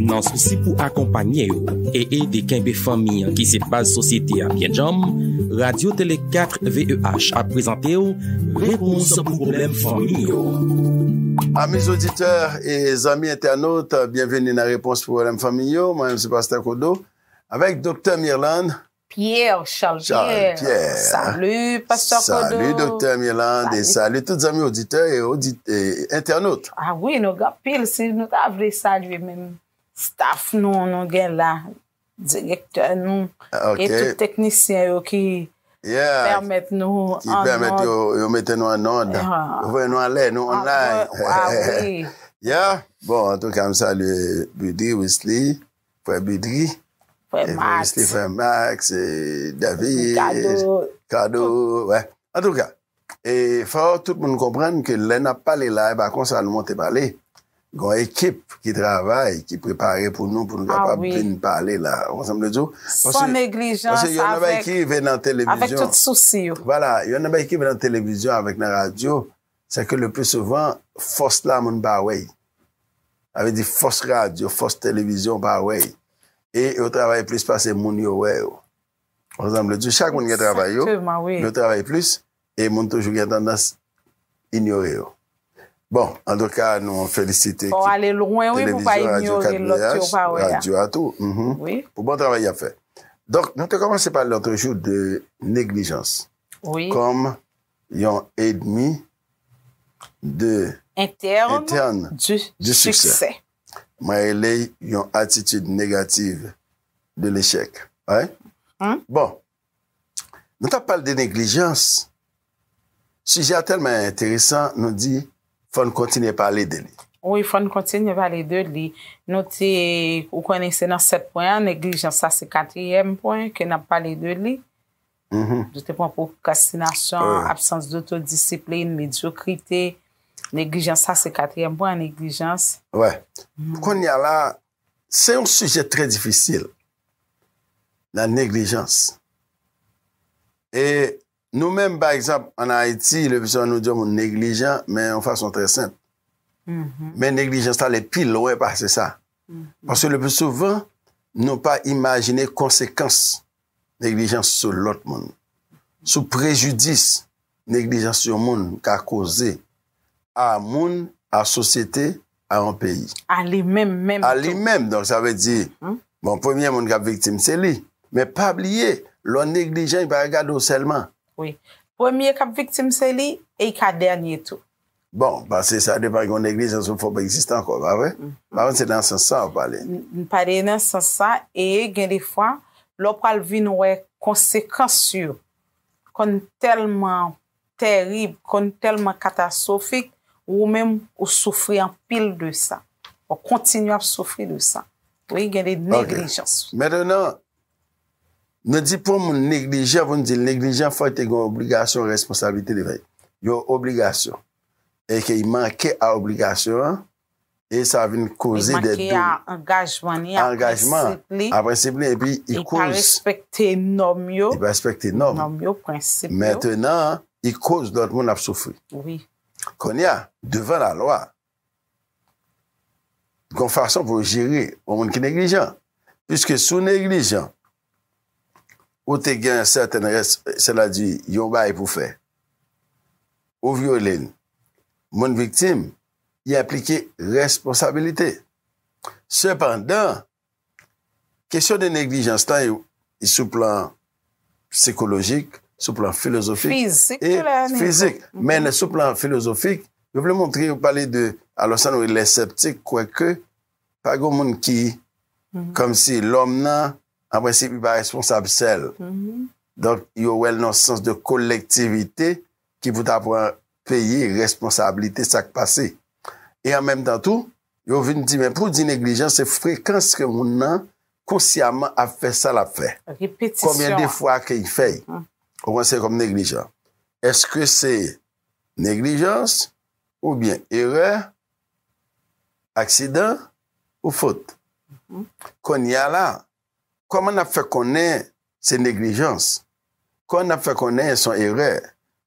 Nan sousi pou akonpanye yo e ede kenbe fanmi an ki se baz sosyete a byen djanm, Radyo Tele 4 VEH ap prezante w Repons pou Pwoblèm Fanmi yo. Ami zoditè e zanmi entènot, byenveni nan Repons pou Pwoblèm Fanmi yo. Mwen menm se Pastè Kodo avèk Doktè Mirlande Pierre Charles Pierre Salut Pasteur Kodo Salut Doktè Mirlande et salut tout zanmi oditè et entènot Ah oui nou gen anpil si nou ta vle salye menm staff nou nou gen la direktè nou et tout teknisyen yo ki pèmèt nou ki pèmèt yo mete nou an nòd yo voye nou anlè nou online Ah oui Yeah bon antouka m salye Buddy Wisly Frè Bedri. Frè Max. Frè Max. David. Ricardo. Ricardo. Wè. An tou ka. E fò tout moun konprann ke lè n ap pale la e pa konsa nou monte pale. Gon ekip ki travay, ki prepare pou nou pou nou kapab vin pale la. Ou konprann sa m vle di w? San neglijans. Paske yon nan bagay ki rive nan televizyon. Avèk tout sousi yo. Vwala. Yon nan bagay ki rive nan televizyon avèk nan radyo. Se ke le pli souvan, fòs la moun pa wè y. Sa vle di fòs radyo, fòs televizyon pa wè y. E yo travay plis pase moun yo wè yo. Konprann sa m vle di w? Chak moun gen travay yo, men yo travay plis e moun toujou gen tandans inyore yo. Bon, antouka nou felisite ekip televizyon, radyo 4 VH, radyo a tou, pou bon travay y ap fè. Donk, nou te kòmanse pale lòt jou de neglijans. Kòm. yon edmi de en term de siksè. Mwen rele yon atitid negativ de lechèk. Bon, nou t ap pale de neglijans, sijè a tèlman enteresan nou di fò n kontinye pale de li. Wi, fò n kontinye pale de li. Nou te, ou konnen se nan 7 pwen an, neglijans sa se katriyèm pwen ke n ap pale de li. Nou te pran pwokrastinasyon, absans dotodisiplin, medyokrite, neglijans, sa se katriyèm pwen an, neglijans. Wè, kounye a la, se yon sijè trè difisil, la neglijans. E nou menm, pa egzanp, an Ayiti, le pi souvan nou di yon moun neglijan, men yon fason trè senp. Men neglijans la ale pi lwen pase sa. Paske le pi souvan, nou pa imajine konsekans neglijans sou lòt moun, sou prejidis neglijans yon moun ka koze a moun, a sosyete, a yon peyi. A li menm menm tou. A li menm, donk sa vle di, bon premye moun k ap viktim se li. Men pa bliye, lè w neglijan yo pa ka gade w sèlman. Wi. Premye k ap viktim se li e li ka dènye tou. Bon, pase sa depa gen yon neglijans ou fòp egziste ankò, pa vre? M pa konn si se nan sans sa ou pale. M pale nan sans sa e gen de fwa lè ou pral vin wè konsekans yo konn tèlman tèrib, konn tèlman katastwofik, ou menm ou soufri anpil de sa. Ou kontinye ap soufri de sa. Wi, gen de neglijans. Ok. Mentènan, Nou di pou yon moun neglijan pou nou di l neglijan fò l te gen yon obligasyon responsablite li bay yon obligasyon e ke li manke a obligasyon an e sa vin koze dè doub. Li manke a angajman li, a prensip li. A prensip li epi li koz. Li pa respekte nòm yo. Li pa respekte nòm. Nòm yo, prensip yo. Mentenan li koz lòt moun ap soufri. Wi. Kounye a, devan lalwa, Gon fason pou yo jere yon moun ki neglijan. Piske si w neglijan, ou te gen yon sèten rès, sela di yon bagay pou fè, ou vyole l, moun viktim, li enplike responsabilite. Sepandan, Kesyon de neglijans lan e sou plan sikolojik, sou plan filozofik e fizik. Men sou plan filozofik, yo vle montre yo pale de alò sa nou rele lè sèptik kwè ke pa gen yon moun ki kòm si lòm nan an prensip li pa responsab sèl. Donk yo wè l nan yon sans de kolektivite ki pou ta pran peye responsablite sa k pase e an menm tan tou yo vin di men pou di neglijan se frekans ke moun nan konsyaman ap fè sa l ap fè konbyen de fwa ke y fè y ou konsidere kòm neglijan eske se neglijans oubyen erè aksidan ou fot konnya la Kòman n ap fè konnen se neglijans? Kòman n ap fè konnen son erè?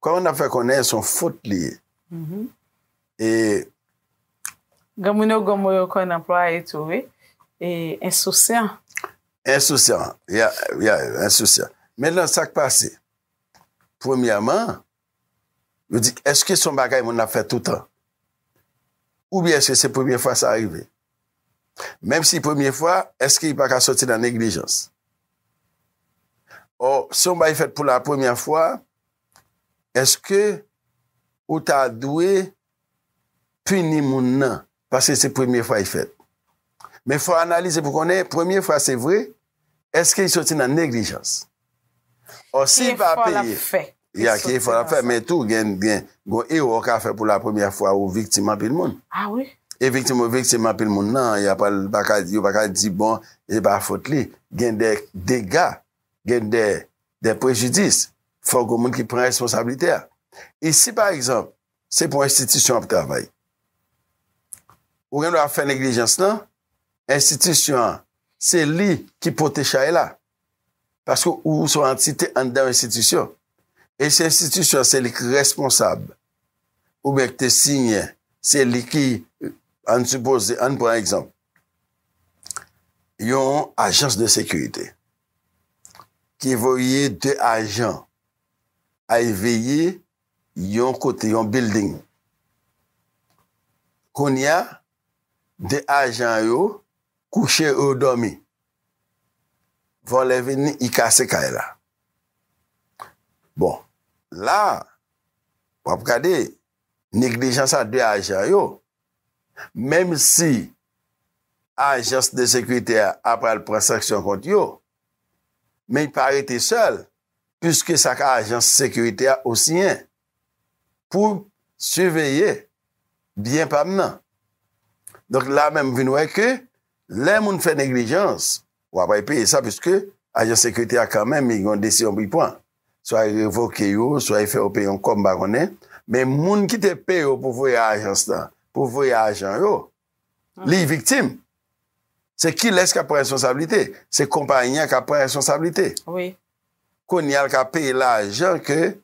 Kòman n ap fè konnen son fot li ye? E. Granmoun yo gwo mo yo konn anplwaye tou wi, e ensousyan. Ensousyan, ya, ya, ensousyan. Mentnan sa k pase? Premyèman. Yo di, èske se yon bagay moun ap fè toutan? Oubyen èske se premye fwa sa rive? Menm si premye fwa, èske li pa ka soti nan neglijans? Ò, si yon bagay fèt pou la premyè fwa, èske ou ta dwe pini moun nan? Paske se premye fwa y fèt. Men fò analize pou konnen premye fwa se vre, eske y soti nan neglijans. Ò si y pa peye, ya ki efò l ap fè men tou gen yon erè w ka fè pou la premyè fwa ou viktim anpil moun. E viktim ou viktim anpil moun nan, y ap al pa ka yo pa ka di bon se pa fot li. Gen de dega, gen de prejidis. Fò gen moun ki pran responsablite a. E si pa egzanp Se pou enstitisyon ap travay. Ou gen dwa fè neglijans nan, enstitisyon an, se li ki pote chay la. Paske ou se yon antite anndan yon enstitisyon. E si enstitisyon an se li ki responsab, oubyen ki te siyen, se li ki, ann sipoze, ann pran egzanp, yon ajans de sekirite, ki voye 2 ajan, al veye Yon kote, yon bilding. Kounye a, de ajan yo kouche, yo dòmi. Vòlè vini, li kase kay la. Bon, la, w ap gade, neglijans a de ajan yo, menm si ajans de sekirite a pral pran sanksyon kont yo, men li pa rete sèl, pwiske sa k ajans sekirite a ou siyen pou siveye byen pa m nan. Donk la menm m vin wè ke lè moun fè neglijans w ap peye sa pwiske ajans sekirite a kanmenm li gen yon desiyon pou li pran. Swa li revoke yo, swa li fè yo peye yon kòb m pa konnen men moun ki te peye w pou voye ajans lan, pou voye ajan yo, liy viktim, se kilès k ap pran responsablite? Se konpayi an k ap pran responsablite. Wi. Kounye a l ka peye lajan ke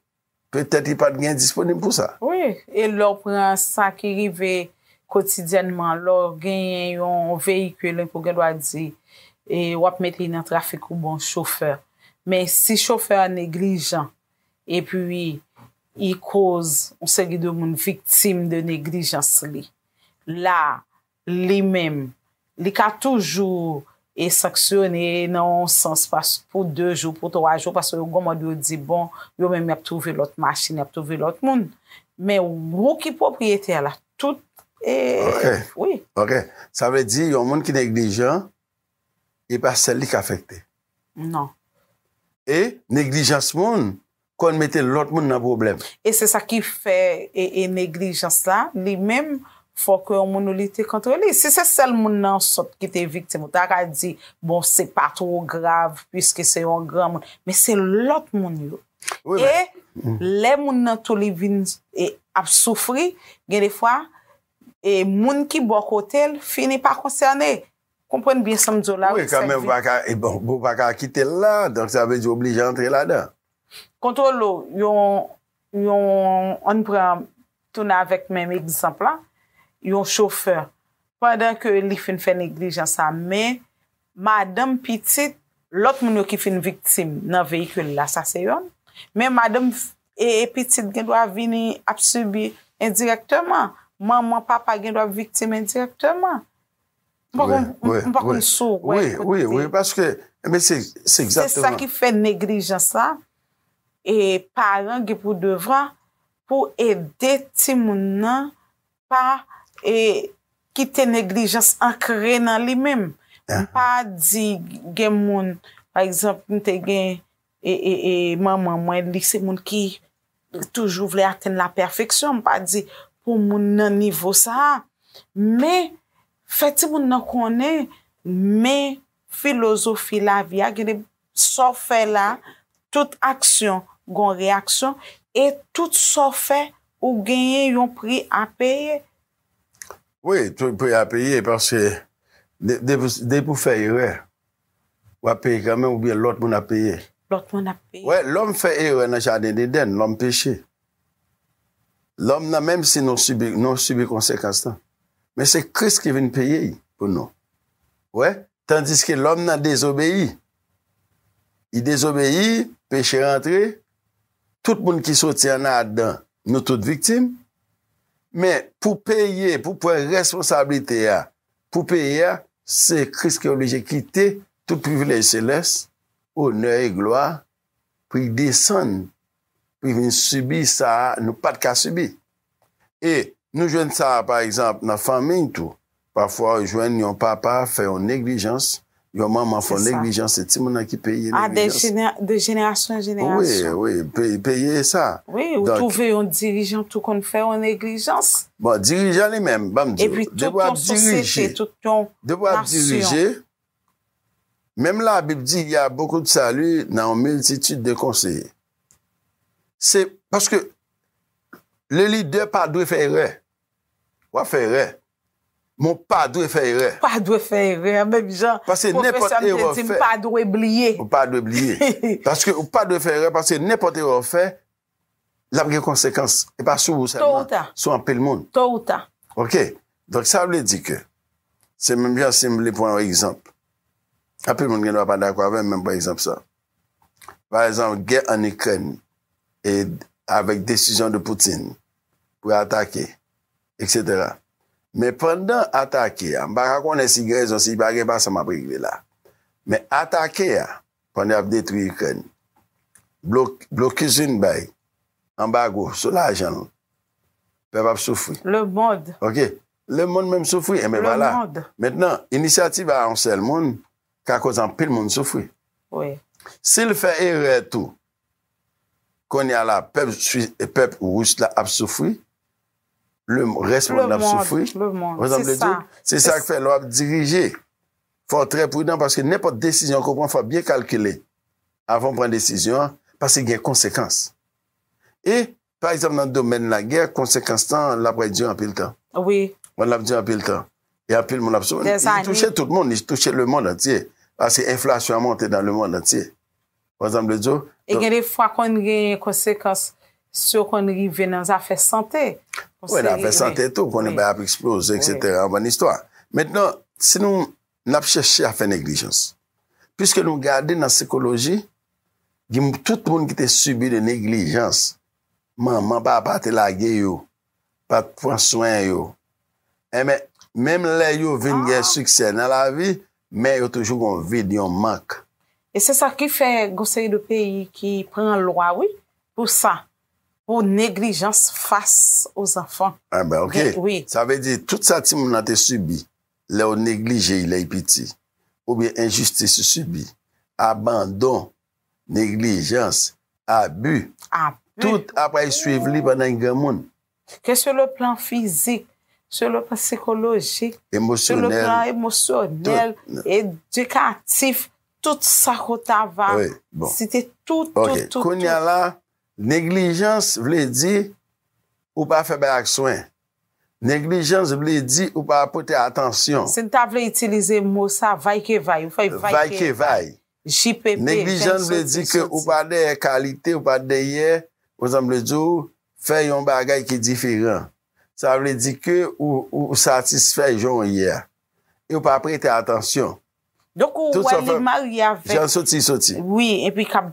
petèt li pa t gen disponib pou sa. Wi. E lè w pran sa ki rive kotidyènman, lè w genyen yon veyikil enpi w gen dwa di e w ap mete li nan trafik ou bon chofè. Men si chofè a neglijan epi li koz yon seri de moun viktim de neglijans li. la li menm li ka toujou e sanksyone nan yon sans pas pou 2 jou pou 3 jou paske yo gwo mòd yo di bon yo menm yap twouve lòt machin yap twouve lòt moun men wou ki pwopriyetè la tout e wi. Ok sa vle di yon moun ki neglijan e pa sèl li k afekte? Non. E neglijans moun konn mete lòt moun nan pwoblèm. E se sa ki fè e neglijans la, li menm, fò ke yon moun ou lite kontre li. Si se sèl moun nan sòt ki te viktim, ou ta ka di, bon, se pa two grav, piske se yon granmoun. Men se lòt moun yo. E, lè moun nan tou li vin e ap soufri, gen de fwa, e moun ki bò kote l, fini pa konsène. Konprann byen sam diw la wi sèk vi. Wi kanmenm ou paka kitel la donk sa vle di ou oblije antre ladan. Kontwole w yon yon ann pran tounen avèk menm egzanp la yon chofè pandan ke li fin fè neglijans sa men madanm pitit lòt moun yo ki fin viktim nan veyikil la sa se yonn men madanm e pitit gen dwa vini ap sibi endirèkteman manman papa gen dwa ap viktim endirèkteman. M pa konn si w wè kote. Wi, wi, paske, men se egzakteman. Se sa ki fè neglijans la, e paran gen pou devwa pou ede timoun nan pa kite neglijans ankre nan li menm. M pa di gen moun, pa egzanp, m te gen. E manman mwen li se moun ki toujou vle atenn la pèfeksyon, m pa di pou moun nan nivo sa a, men fè timoun nan konnen men filozofi lavi a, gade sa w fè la, tout aksyon gon reyaksyon e tout sa w fè ou genyen yon pri a peye. Wi, pri a peye paske depi w fè erè, W ap peye kanmenm oubyen lòt moun ap peye? Lòt moun ap peye. Wè, lòm fè erè nan jaden Edenn, lòm peche. Lòm nan menm si nou sibi, nou sibi konsekans lan. Men se Kris ki vin peye y pou nou. Wè, tandiske lòm nan dezobeyi. Li dezobeyi, peche rantre, tout moun ki soti an Adan, nou tout viktim. Men, pou peye, pou pran responsablite a, Pou peye a, se Kris ki oblije kite tout privilèj selès, onè e glwa, pou li desann, pou li vin sibi sa a nou pa t ka sibi. E nou jwenn sa a, pa egzanp, nan fanmiy tou. Pafwa ou jwenn yon papa fè yon neglijans Yon manman fò neglijans se timoun nan ki peye neglijans. A de jenerasyon an jenerasyon. Wi, wi, peye e sa. Wi, ou twouve yon dirijan tou konn fè yon neglijans. Bon, dirijan li menm, ban m di ou. E pi tout yon sosyete, tout yon nasyon. Depi wap dirije, menm la bib di y a bokou de sali nan yon miltitid de konseye. Se, paske, le lidè pa dwe fè erè. Wap fè erè. Mwen pa dwe fè erè. Pa dwe fè erè. Menm jan pwofesè m te di m pa dwe bliye. Ou pa dwe bliye. Paske ou pa dwe fè erè paske nenpòt erè ou fè l ap gen konsekans. E pa sou ou sèlman, sou anpil moun. To ou ta. Ok. Donk sa vle di ke se menm jan si m vle pran yon egzanp. Anpil moun gendwa pa dakò avè m men m pran egzanp sa. Pa egzanp gè ann Ikrèn e avèk desizyon de Poutine pou l atake. Etc men pandan atake a m pa ka konnen si gen rezon si pa gen pa sa map regle la men atake a pandan yap detwi ikrèn blokis vin bay anbago sou lajan l pèp ap soufri ok lemond menm soufri enben vwala mentnan inisyativ a yon sèl moun ka koz anpil moun soufri si l fè erè tou konnya la pèp rus la ap soufri Le mond. Rès mond nan ap soufri. Le mond. Le mond. Se sa. Se sa k fè lè w ap dirije. Fò w trè pridan paske nenpòt desizyon ke w pran fò w byen kalkile avan w pran desizyon an paske gen konsekans. E, pa egzanp nan domèn lagè, konsekans lan l ap rete dire anpil tan. Wi. L ap dire anpil tan. E anpil moun ap soufri. Dèzane. Li touche tout moun. Li touche le mond antye. Paske enflasyon an monte nan le mond antye. Wè sa m vle di w? E gen de fwa konn gen konsekans syo konn rive nan zafè sante. Wè nan afè sante tou konnen bagay ap eksploze eksetera anvan listwa. Mentnan si nou n ap chèche afè neglijans. Piske nou gade nan sikoloji gen tout moun ki te sibi de neglijans manman papa te lage yo pa t pran swen yo. Enben, menm lè yo vin gen siksè nan lavi, men yo toujou gen yon vid, yon mank. E se sa ki fè gon seri de peyi ki pran lwa wi pou sa, pou neglijans fas o zanfan. Enben ok. Sa vle di tout sa timoun nan te sibi lè yo neglije y lè y piti, oubyen enjistis y sibi, abandon neglijans, abi, tout apray swiv li pandan li granmoun. Ke sou le plan fizik, sou le plan sikolojik, sou le plan emosyonèl, edikatif, tout sa ke w ta va site, tout, tout, tout. Ok, kounya la, neglijans vle di ou pa fè bagay ak swen. Neglijans vle di ou pa pote atansyon. Si n ta vle itilize mo sa, vaykevay, ou fè vaykevay. Vaykevay. JPP fenk soti sou Neglijan vle di ke ou pa dèyè kalite, ou pa dèyè, ou san vle di w, fè yon bagay ki diferan. Sa vle di ke ou satisfè jan w ye a. E ou pa prete atansyon. Donk ou wè li marye avèk. Jan soti soti. Wi, epi k ap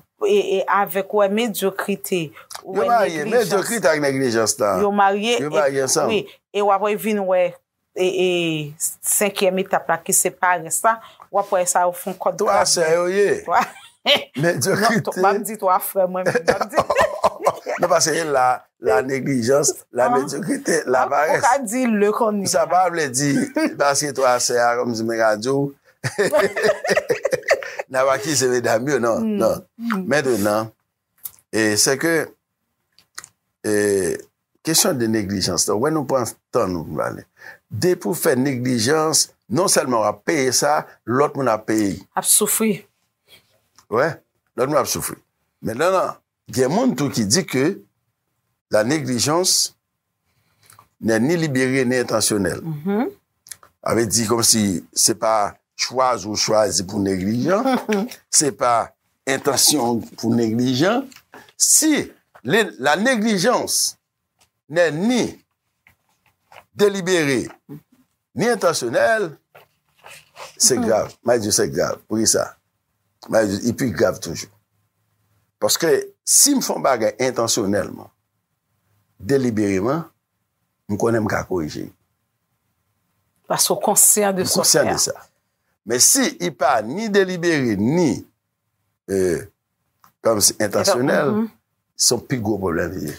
avèk ou wè medyokrite. Yo marye, medyokrite ak neglijans la. Yo marye. Yo marye ansanm. Wi, e w ap vin wè e senkyèm etap la ki se parès la wap wè sa yo fon kòd twa sè yo ye twa medyokrite non map di twa frè mwen menm map di non pase e la la neglijans la medyokrite la parès ou ka di le koni sa pa vle di pase twa sè a kòmsi mwen ka di w nap akize medam yo non non mètrenan e sè ke e kesyon de neglijans la wè nou pran tan nou pou ale depi ou fè neglijans non sèlman wap peye sa lòt moun ap peye ap soufri wè lòt moun ap soufri men nan gen moun tou ki di ke la neglijans Nè ni libere ni entansyonèl. Sa vle di kòm si se pa chwazi ou chwazi pou neglijan, se pa entansyon ou pou neglijan. Si la neglijans nè ni delibere ni entansyonèl, se grav. Mwen di se grav. Pou ki sa? Mwen di li pi grav toujou. Paske si m fè yon bagay entansyonèlman, delibereman, m konnen m ka korije li. Paske w konsyan de sa w fè a. M konsyan de sa. Men si li pa ni delibere ni kòmsi entansyonèl, se yon pi gwo pwoblèm li ye.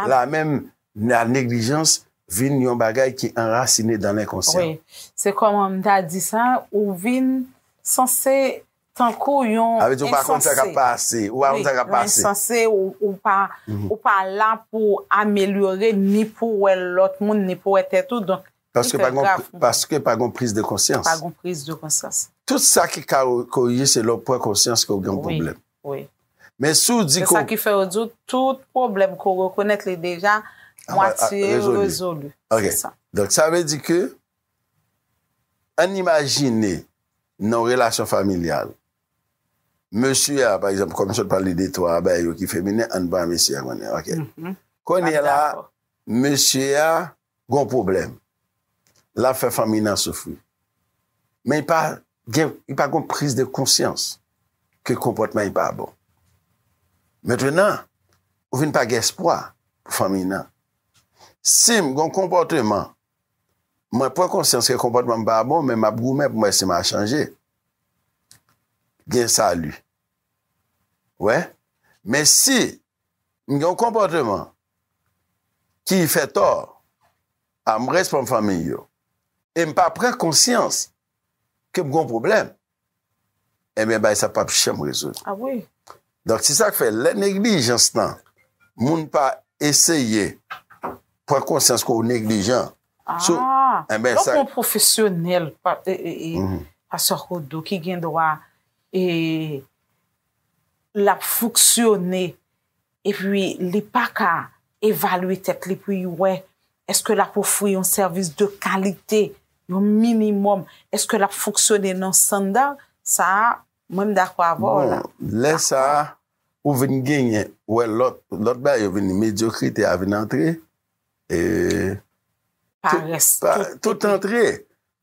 La menm la neglijans vin yon bagay ki anrasine dan lenkonsyan. Wi. Se kòman m ta di sa, ou vin sanse Tankou yon ensanse. Ou pa konn sa kap pase. Yon ensanse ou pa la pou amelyore ni pou wè lòt moun ni pou wè tèt ou. Donk li trè grav pou mwen. Paske pa gon priz de konsyans. Pa gon priz de konsyans. Tout sa ki ka korije se lè ou pran konsyans ke ou gen yon pwoblèm. Wi, wi. Men si ou di ke ou. Se sa ki fè yo di ou tout pwoblèm ke ou rekonèt li deja mwatye rezolu. Ok. Se sa. Donk sa vle di ke Ann imajine nan yon relasyon familyal, mesye a, pa egzanp, kòm m sot pale de twa bagay yo ki feminen, ann pran mesye a kounye a, ok. Kounye la, mesye a gen yon pwoblèm. L ap fè fanmi nan soufri. Men li pa gen yon priz de konsyans ke konpòtman li pa bon. Mentenan, ou vin pa gen espwa pou fanmi nan. Si m gen yon konpòteman Mwen pran konsyans ke konpòtman m pa bon, men m ap goumen pou m wè si m a chanje. Gen sali. Ou wè? Men si m gen yon konpòtman ki fè tò a m respon fanmiy yo, e m pa pran konsyans ke m gen yon pwoblèm, Ebyen bagay sa pap janm rezoud. Ah wi. Donk se sak fè lè neglijans lan moun pa eseye pran konsyans ke w neglijan. Ah donk yon pwofesyonèl Pastè Kodo ki gen dwa e lap fonksyone epi li pa ka evalye tèt li pou li wè èske l ap ofri yon sèvis de kalite, yon minimòm, èske l ap fonksyone nan standard, sa a, mwen m dakò avè w la. Bon, lè sa a, ou vin genyen, ou wè lòt, lòt bagay yo vini, medyokrite a vin antre, e. Parès. Tout antre.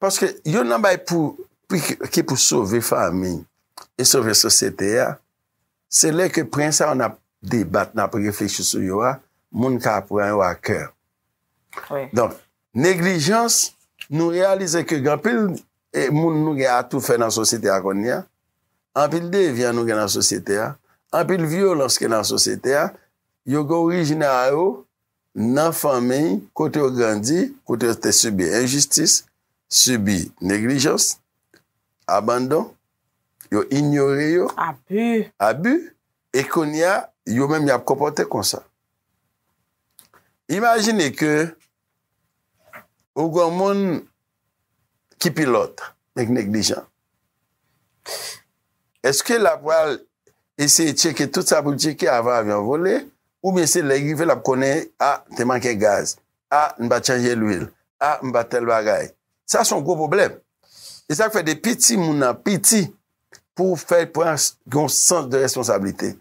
Paske youn nan bagay pou, ki pou sove fanmi, e sove sosyete a. Se lè ke pwen sa yo n ap debat, n ap reflechi sou yo a, moun ka pran yo a kè. Donk, neglijans, nou reyalize ke gen anpil moun nou gen atoufè nan sosyete a kounye a, anpil devyan nou gen nan sosyete a, anpil vyolans ki nan sosyete a, yo gen orijin a yo Nan fanmi kote yo grandi, kote yo te sibi enjistis, sibi neglijans, abandon, yo inyore yo, abi, e kounye a, yo menm y ap konpòte konsa. Imajine ke ou gen yon moun Ki pilòt? Nèg neglijan. Eske la pral eseye tcheke tout sa pou l tcheke avan avyon an vole? Oubyen se lè y rive l ap konnen, a, te manke gaz, a, m pa t chanje lwil, a, m pa t tèl bagay? Sa se yon gwo pwoblèm. E sa k fè depi timoun nan piti pou w fè l pran yon sans de responsablite,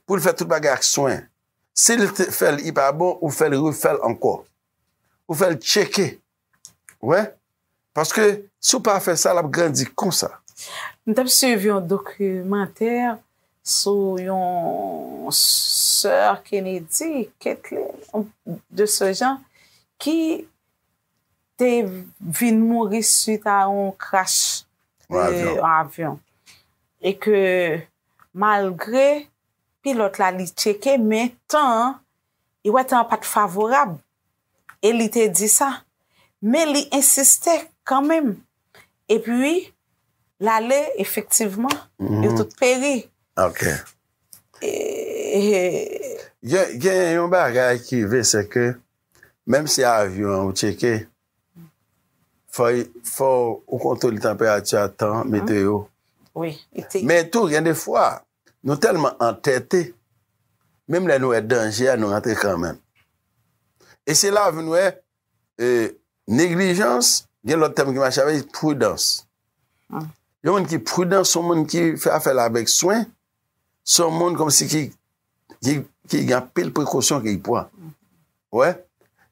pou l fè tout bagay ak swen. Si l fè l i pa bon, ou fè l refè l ankò. Ou fè l tcheke. Ou wè? Paske si w pa fè sa, l ap grandi konsa. M t ap suiv yon dokimantè sou yon sè Kennedy, Kaitlyn, yon de se jan, ki te vin mouri suit a yon krash yon avyon. E ke malgre pilòt la li tcheke men tan an Li wè tan an pa t favorab e li te di sa. Men li ensiste kanmenm. Epi, l ale, efektivman, yo tout peri. Ok. E. Gen yon bagay ki rive, sèke menm si avyon an ou tcheke, fò ou kontwole tanperati a, tan, meteyo. Wi. Men tou, gen de fwa, Nou tèlman antète, menm lè nou wè danje a nou rantre kanmenm. E se la vin wè neglijans, gen lòt tèm ki mache avè li, pridans. Yon moun ki pridan son moun ki fè afèl avèk swen, son moun kòm si ki gen anpil prekosyon ki pran. Ou wè?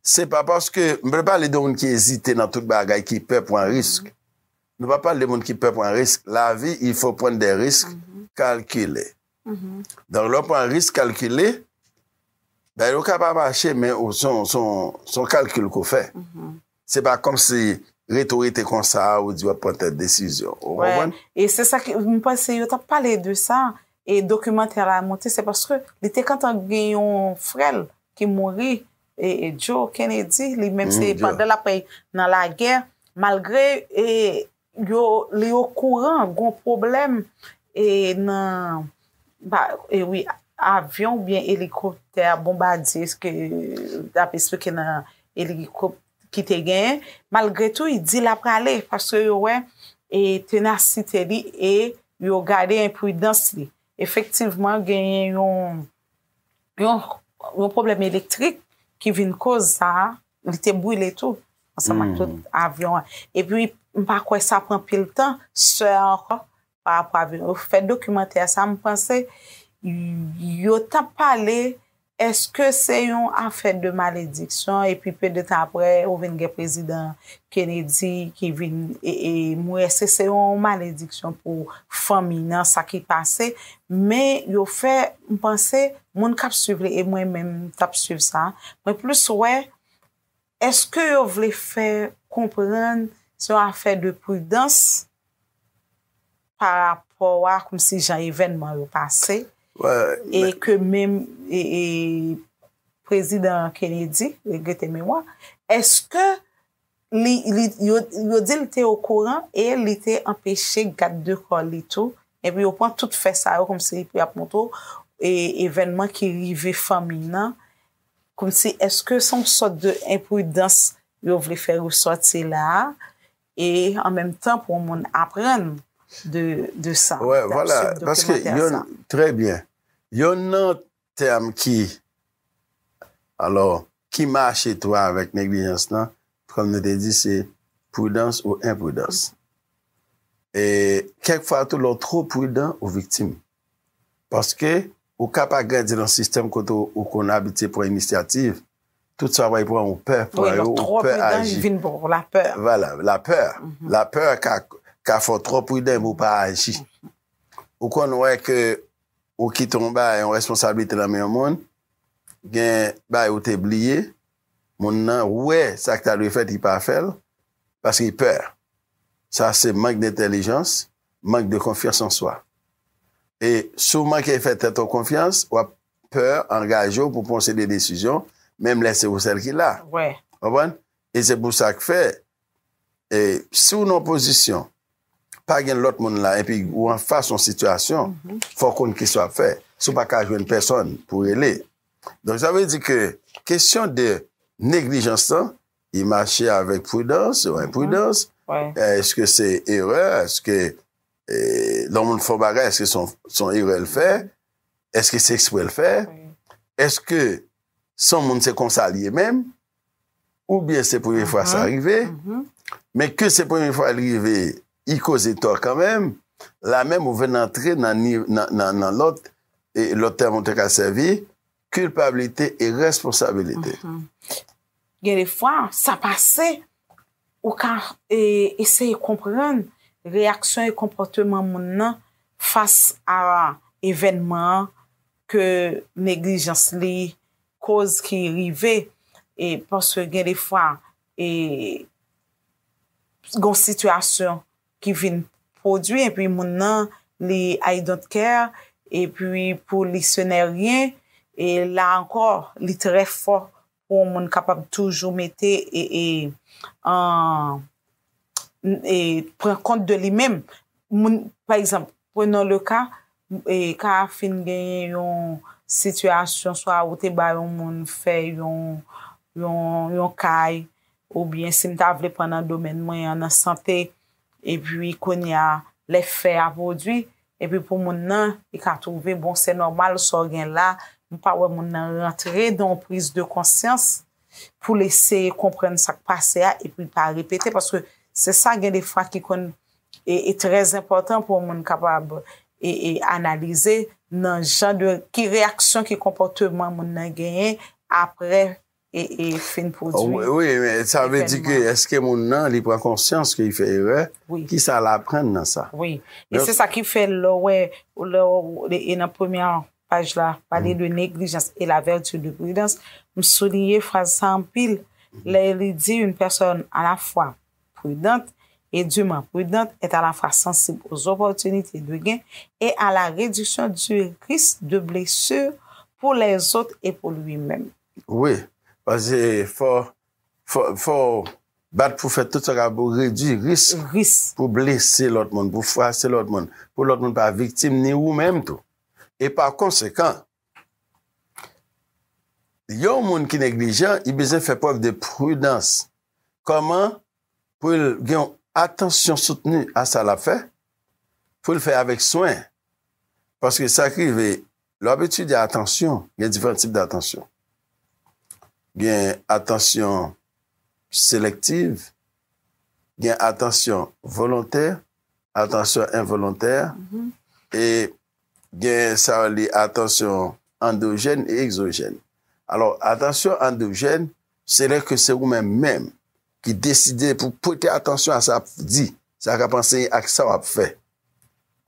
Se pa paske, m pa pale de moun ki ezite nan tout bagay, ki pè pran risk. Nou pa pale de moun ki pè pran risk. Lavi, il fo pran de risk kalkile. Donk lè w pran risk kalkile, bagay yo ka pa mache men ou son kalkil ke w fè. Se pa kòm si rete ou rete konsa a ou di w ap pran tèl desizyon. Ou konprann? E se sa ki, m panse yo t ap pale de sa, e dokimantè la monte se paske li te kantan gen yon frè l ki mouri E Joe Kennedy li menm se pandan lap nan lagè malgre yo li okouran gon pwoblèm e nan e wi avyon ou byen elikoptè a bonbadye se ke lap esplike nan elikoptè ki te genyen malgre tou li di lap prale paske yo wè e tenasite li e yo gade enpridans li efektivman genyen yon Yon pwoblèm elektrik ki vin koz sa a, li te brile tou, ansanm ak tout avyon an. E pi, m pa kwè sa pran pil tan, sè a ankò, pa rapò avyon yo. Fè dokimantè sa a, m panse, yo t ap pale, èske se yon afè de malediksyon, e pi pe de tan apre, ou vin gen prezidan Kennedy ki vin m wè se se yon malediksyon pou fanmi nan sa ki pase men yo fè m panse moun kap swiv li e mwen menm m tap swiv sa mwen plis wè eske yo vle fè konprann se yon afè de pridans. pa rapò a kòmsi jan evènman yo pase e ke menm prezidan Kennedy, regrete memwa, eske yo di li te okouran e li te anpeche gad de kò li tou epi yo pran tout fè sa yo kòmsi pou y ap montre w evènman ki rive fanmi nan kòmsi eske son sòt de enpridans yo vle fè resòti la a E an menm tan pou moun aprann de sa. Wè, vwala, paske yon, trè byen, yon nan tèm ki, alò, ki mache tou avèk neglijans lan, kòm nou te di, se pridans ou enpridans. E kèk fwa tou lè w twò pridan, ou viktim. Paske, ou ka pa grandi nan sistèm kote ou konn abitye pran inisyativ, tout sa way pran ou pè pran yo, ou pè aji. Vwala, lapè. Lapè ka fè w twò pridan epi ou pa aji. Ou konn wè ke ou kite yon bagay, yon responsablite nan men yon moun, gen bagay ou te bliye, Moun nan wè sak ta dwe fèt li pa fèl paske li pè. Sa se mank dentèlijans, mank de konfyans an swa. E si w manke fè tèt w konfyans, wap pè angaje w pou pwon seri de desizyon menm lè se ou sèl ki la. Konprann? E se pou sak fè e si w nan yon pozisyon pa gen lòt moun la epi ou anfas yon sitiyasyon fò w konn kisa w ap fè si w pa ka jwenn pèsòn pou w rele donk sa vle di ke kesyon de neglijans lan li mache avèk pridans ou enpridans eske se erè eske lè yon moun fè yon bagay eske se yon erè l fè eske se eksprè l fè eske se yon moun se konsa l ye menm Oubyen se premye fwa sa rive, men ke se premye fwa li rive, li koze tò kanmenm, la menm ou vin antre nan lòt, e lòt tèm ou te ka sèvi, kilpabilite e responsabilite. Gen de fwa, sa pase, ou ka eseye konprann reyaksyon e konpòteman moun nan fas a evènman an ke neglijans li koz ki rive e paske gen de fwa e gon sitiyasyon ki vin pwodwi e pi moun nan li I don't care e pi pou li se nè ryen e la ankò li trè fò pou moun kapab toujou mete e e an pran kont de li menm. Moun, pa egzanp, prenons le cas, ka a fin genyen yon sitiyasyon swa ou te ba yon moun fè yon, yon kay, oubyen si m ta vle pran nan domèn mwen an, nan sante, epi kounye a, lè fè a pwodui, epi pou moun nan, li ka twouve, bon, se nòmal sa w gen la, m pa wè moun nan rantre nan yon priz de konsyans. pou l eseye konprann sa k pase a epi l pa repete paske se sa gen defwa ki konn e trè enpòtan pou yon moun kapab e analize nan jan de ki reyaksyon ki konpòteman moun nan genyen aprè e fin pwodui. Wi, sa vle di ke eske moun nan li pran konsyans ke li fè erè, ki sa l aprann nan sa. Wi, e se sa ki fè lè w wè, lè w e nan premye Paj la pale de neglijans e la vertu de prudence. M souliye fraz sa anpil lè li di une personne à la fois prudente et dûment prudente est à la fois sensible aux opportunités de gain et à la réduction du risque de blessure pour les autres et pour lui-même. Wi, paske fò fò w bat pou fè tout sa w kapab pou redui risk pou blese lòt moun, pou fwase lòt moun, pou lòt moun pa viktim ni ou menm tou. E pa konsekan, yon moun ki neglijan, li bezwen fè prèv de pridans. Kòman pou l gen yon atansyon soutni a sa l ap fè, pou l fè avèk swen? Paske sa ki rive, lè w ap etidye atansyon, gen diferan tip datansyon. Gen atansyon selektiv, gen atansyon volontè, atansyon envolontè, e gen sa yo rele atansyon andojèn e egzojèn. Alò, atansyon andojèn, se lè ke se ou menm menm ki deside pou w prete atansyon a sa w ap di, sa w ap anseye ak sa w ap fè.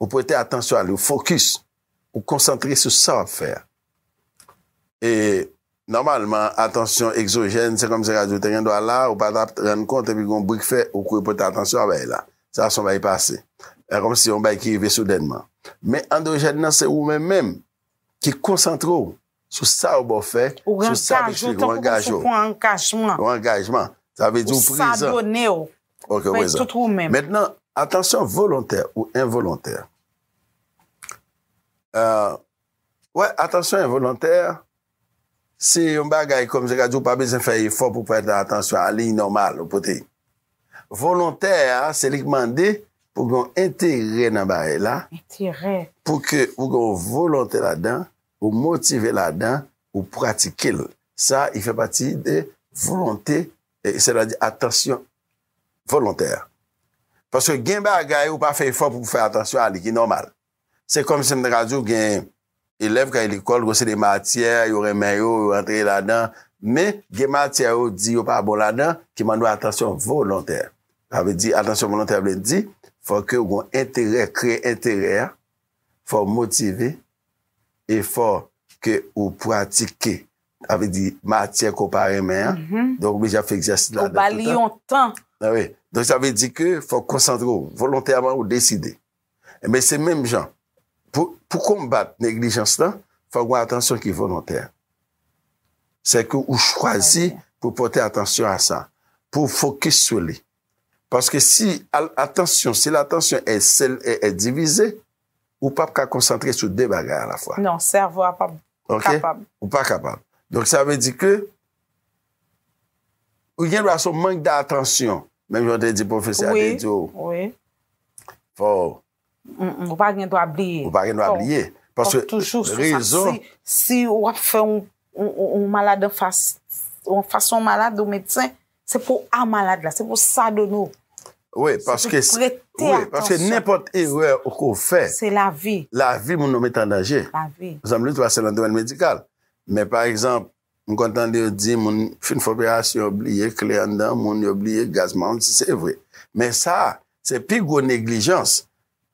Ou prete atansyon a li, ou fokis Ou konsantre sou sa w ap fè a. E nòmalman atansyon egzojèn se kòmsi radyo te gendwa la, ou pa ta rann kont epi gen yon bri k fè ou kouri pote atansyon a bay la. Sa se yon bagay pase. Se kòmsi se yon bagay ki rive soudènman. Men andojèn nan se ou menm menm ki konsantre w. Sou sa yo ba w fè. Ou rangaje w tankou moun sou pran angajman. Ou angajman. Sa vle di ou prezan. Ou fadone w. Ok, ou prezan. Fè tout ou menm. Mentnan, atansyon volontè ou envolontè. Wè, atansyon envolontè, se yon bagay kòm se ka di ou pa bezwen fè efò pou prete atansyon a liy nòmal ou pote. Volontè a, se li ki mande pou gen yon enterè nan bagay la. Enterè. Pou ke ou gen yon volontè ladan, Ou motive ladan, ou pratike l. Sa a fè pati de volonte, sètadi atansyon volontè a. Paske gen bagay ou pa fè efò pou w fè atansyon a li, ki nòmal. Se kòmsi m ta ka di w gen elèv k ale lekòl, gen yon seri de matyè yo renmen yo, yo antre ladan, men gen matyè yo di yo pa bon ladan ki mande w atansyon volontè. Sa vle di atansyon volontè vle di fòk yo gen enterè, kreye enterè a fò w motive, efò ke ou pratike, sa vle di matyè ke w pa renmen an, donk ou oblije ap fè egzèsis la nan tout yon tan, donk sa vle di ke fò w konsantre w volontèman ou deside, enben se menm jan pou konbat neglijans lan fò gen atansyon ki volontè, sè ke ou chwazi pou pote atansyon a sa, pou w fokis sou li. Paske si al atansyon, si l atansyon è sèl è è divize, ou pap ka konsantre sou de bagay a la fwa. Non, sèvo a pap kapab. Ok, ou pa kapab. Donk sa vle di ke, ou gen dwa son mank datansyon, menm jan w te di pwofesè a te di w. Wi, wi. Fò Ou pa gen dwa bliye. Ou pa gen dwa bliye. Paske rezon. Ou toujou sou sa. Si ou ap fè yon malad an fas, yon fas yon malad ou medsen, se pou a malad la, se pou sa donnen ou. Ouye, paske. Se pou prete atansyon. Ouye, paske nenpòt erè ou ko fè. Se la vi. La vi moun ou met an danje. La vi. Zanm li tou a se nan domèn medikal. Men pa egzanp, M konn tande yo di moun fin fè operasyon yo bliye kle anndan moun, yo bliye gaz maron si se vre. Men sa, se pi gwo neglijans.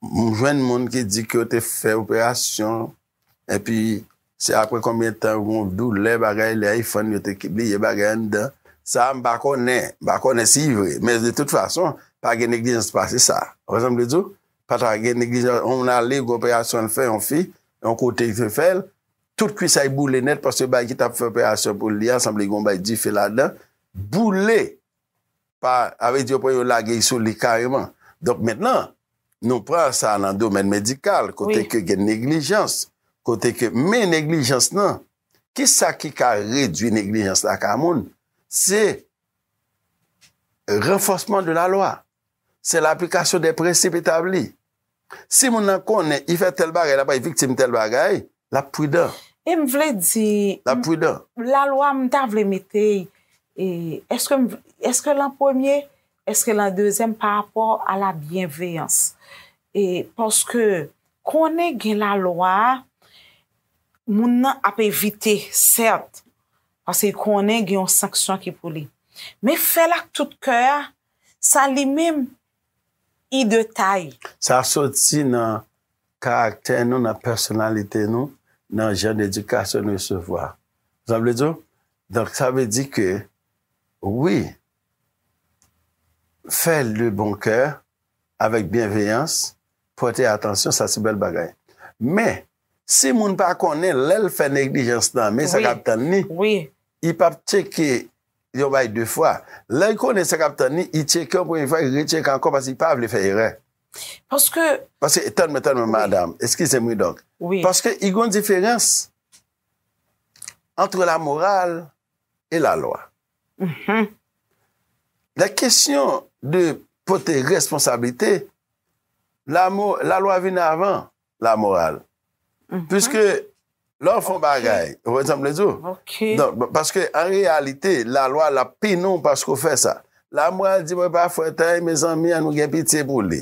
M jwenn moun ki di ke yo te fè operasyon epi se apre konbyen tan yo gen yon doulè bagay lè a yi fann yo te bliye bagay anndan. Sa m pa konnen, m pa konnen si yi vre. Men de tout fason, pa gen neglijans pase sa. Ou konprann sa m vle di w? Pa ta gen neglijans, yon moun ale gen yon operasyon l fè, yon fi, yon kote li te fè l, Tout kwisay boule nèt paske bagay ki tap fè operasyon pou li a sanble gon bay dife ladan, boule pa a vle di yo pran yo lage sou li kareman. Donk mentnan nou pran sa nan domèn medikal kote ke gen neglijans, kote ke men neglijans nan ki sa ki ka redwi neglijans la ka moun se ranfòsman de la lwa, se laplikasyon de prensip etabli. Si moun nan konnen i fè tèl bagay, l ap bay viktim tèl bagay, l ap pridan. E m vle di. L ap pridan. Lalwa m ta vle mete, èske m, èske l an premye, èske l an dezyèm parapò a la byenveyans? E paske konnen gen lalwa a, moun nan ap evite sèt, paske l konnen gen yon sanksyon ki pou li. Men fè l ak tout kè a, sa li menm i de taille. Sa soti nan karaktè nou, nan pèsonalite nou, nan jan d'edikasyon nou resevwa. Sa vle di w? Donk sa vle di ke wi, fè l de bon kè, avèk byenveyans, pòte atansyon, sa se bèl bagay. Men, si moun pa konnen, lè l fè neglijans nan men sa k ap tann li, li p ap tcheke Yon bagay 2 fwa. Lè l konnen sa k ap tann li, li tcheke yon premye fwa, li retcheke ankò paske li pa vle fè erè. Paske. Paske, tann mwen, tann mwen madam, eskize m wi donk. Wi. Paske i gen yon diferans antre lamoral e lalwa. Mh. Lè kesyon de pote responsablite, lalwa vin avan. la moral. Piske lè w fè yon bagay, ou konprann sa m vle di w? Donk, paske an reyalite, lalwa l ap pini w paske w fè sa. La moral di mwen pa fwèt anyen, mezanmi, an nou gen pitye pou li.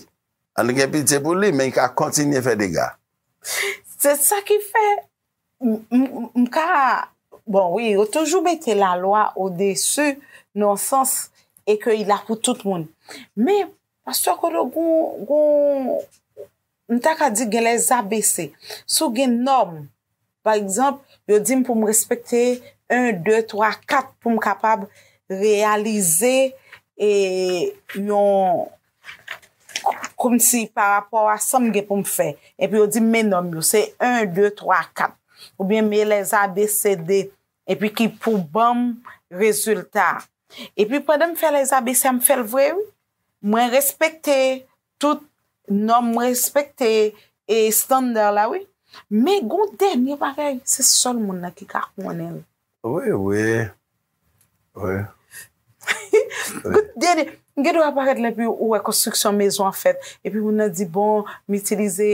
An nou gen pitye pou li, men li ka kontinye fè dega. Se sa ki fè, m ka, bon wi, yo toujou mete lalwa odesu nan yon sans e ke li la pou tout moun. Men, pastè Kodo, gon, M ta ka di gen lè sa bese. Si w gen nòm, pa egzanp, yo di m pou m respekte 1, 2, 3, 4 pou m kapab reyalize e yon kòmsi pa rapò a sa m gen pou m fè. Epi yo di m men nòm yo, se 1, 2, 3, 4. Oubyen men lè sa bese 2. Epi ki pou ban m rezilta. Epi pandan m fè lè sa bese a m fè l vre wi. Mwen respekte Tout nòm m respekte e standard la wi. Men gon dènye bagay se sèl moun nan ki ka konnen l. Wi wi wi. Gon dènye m gen dwa parèt la epi ou wè konstriksyon mezon an fèt epi moun nan di bon m itilize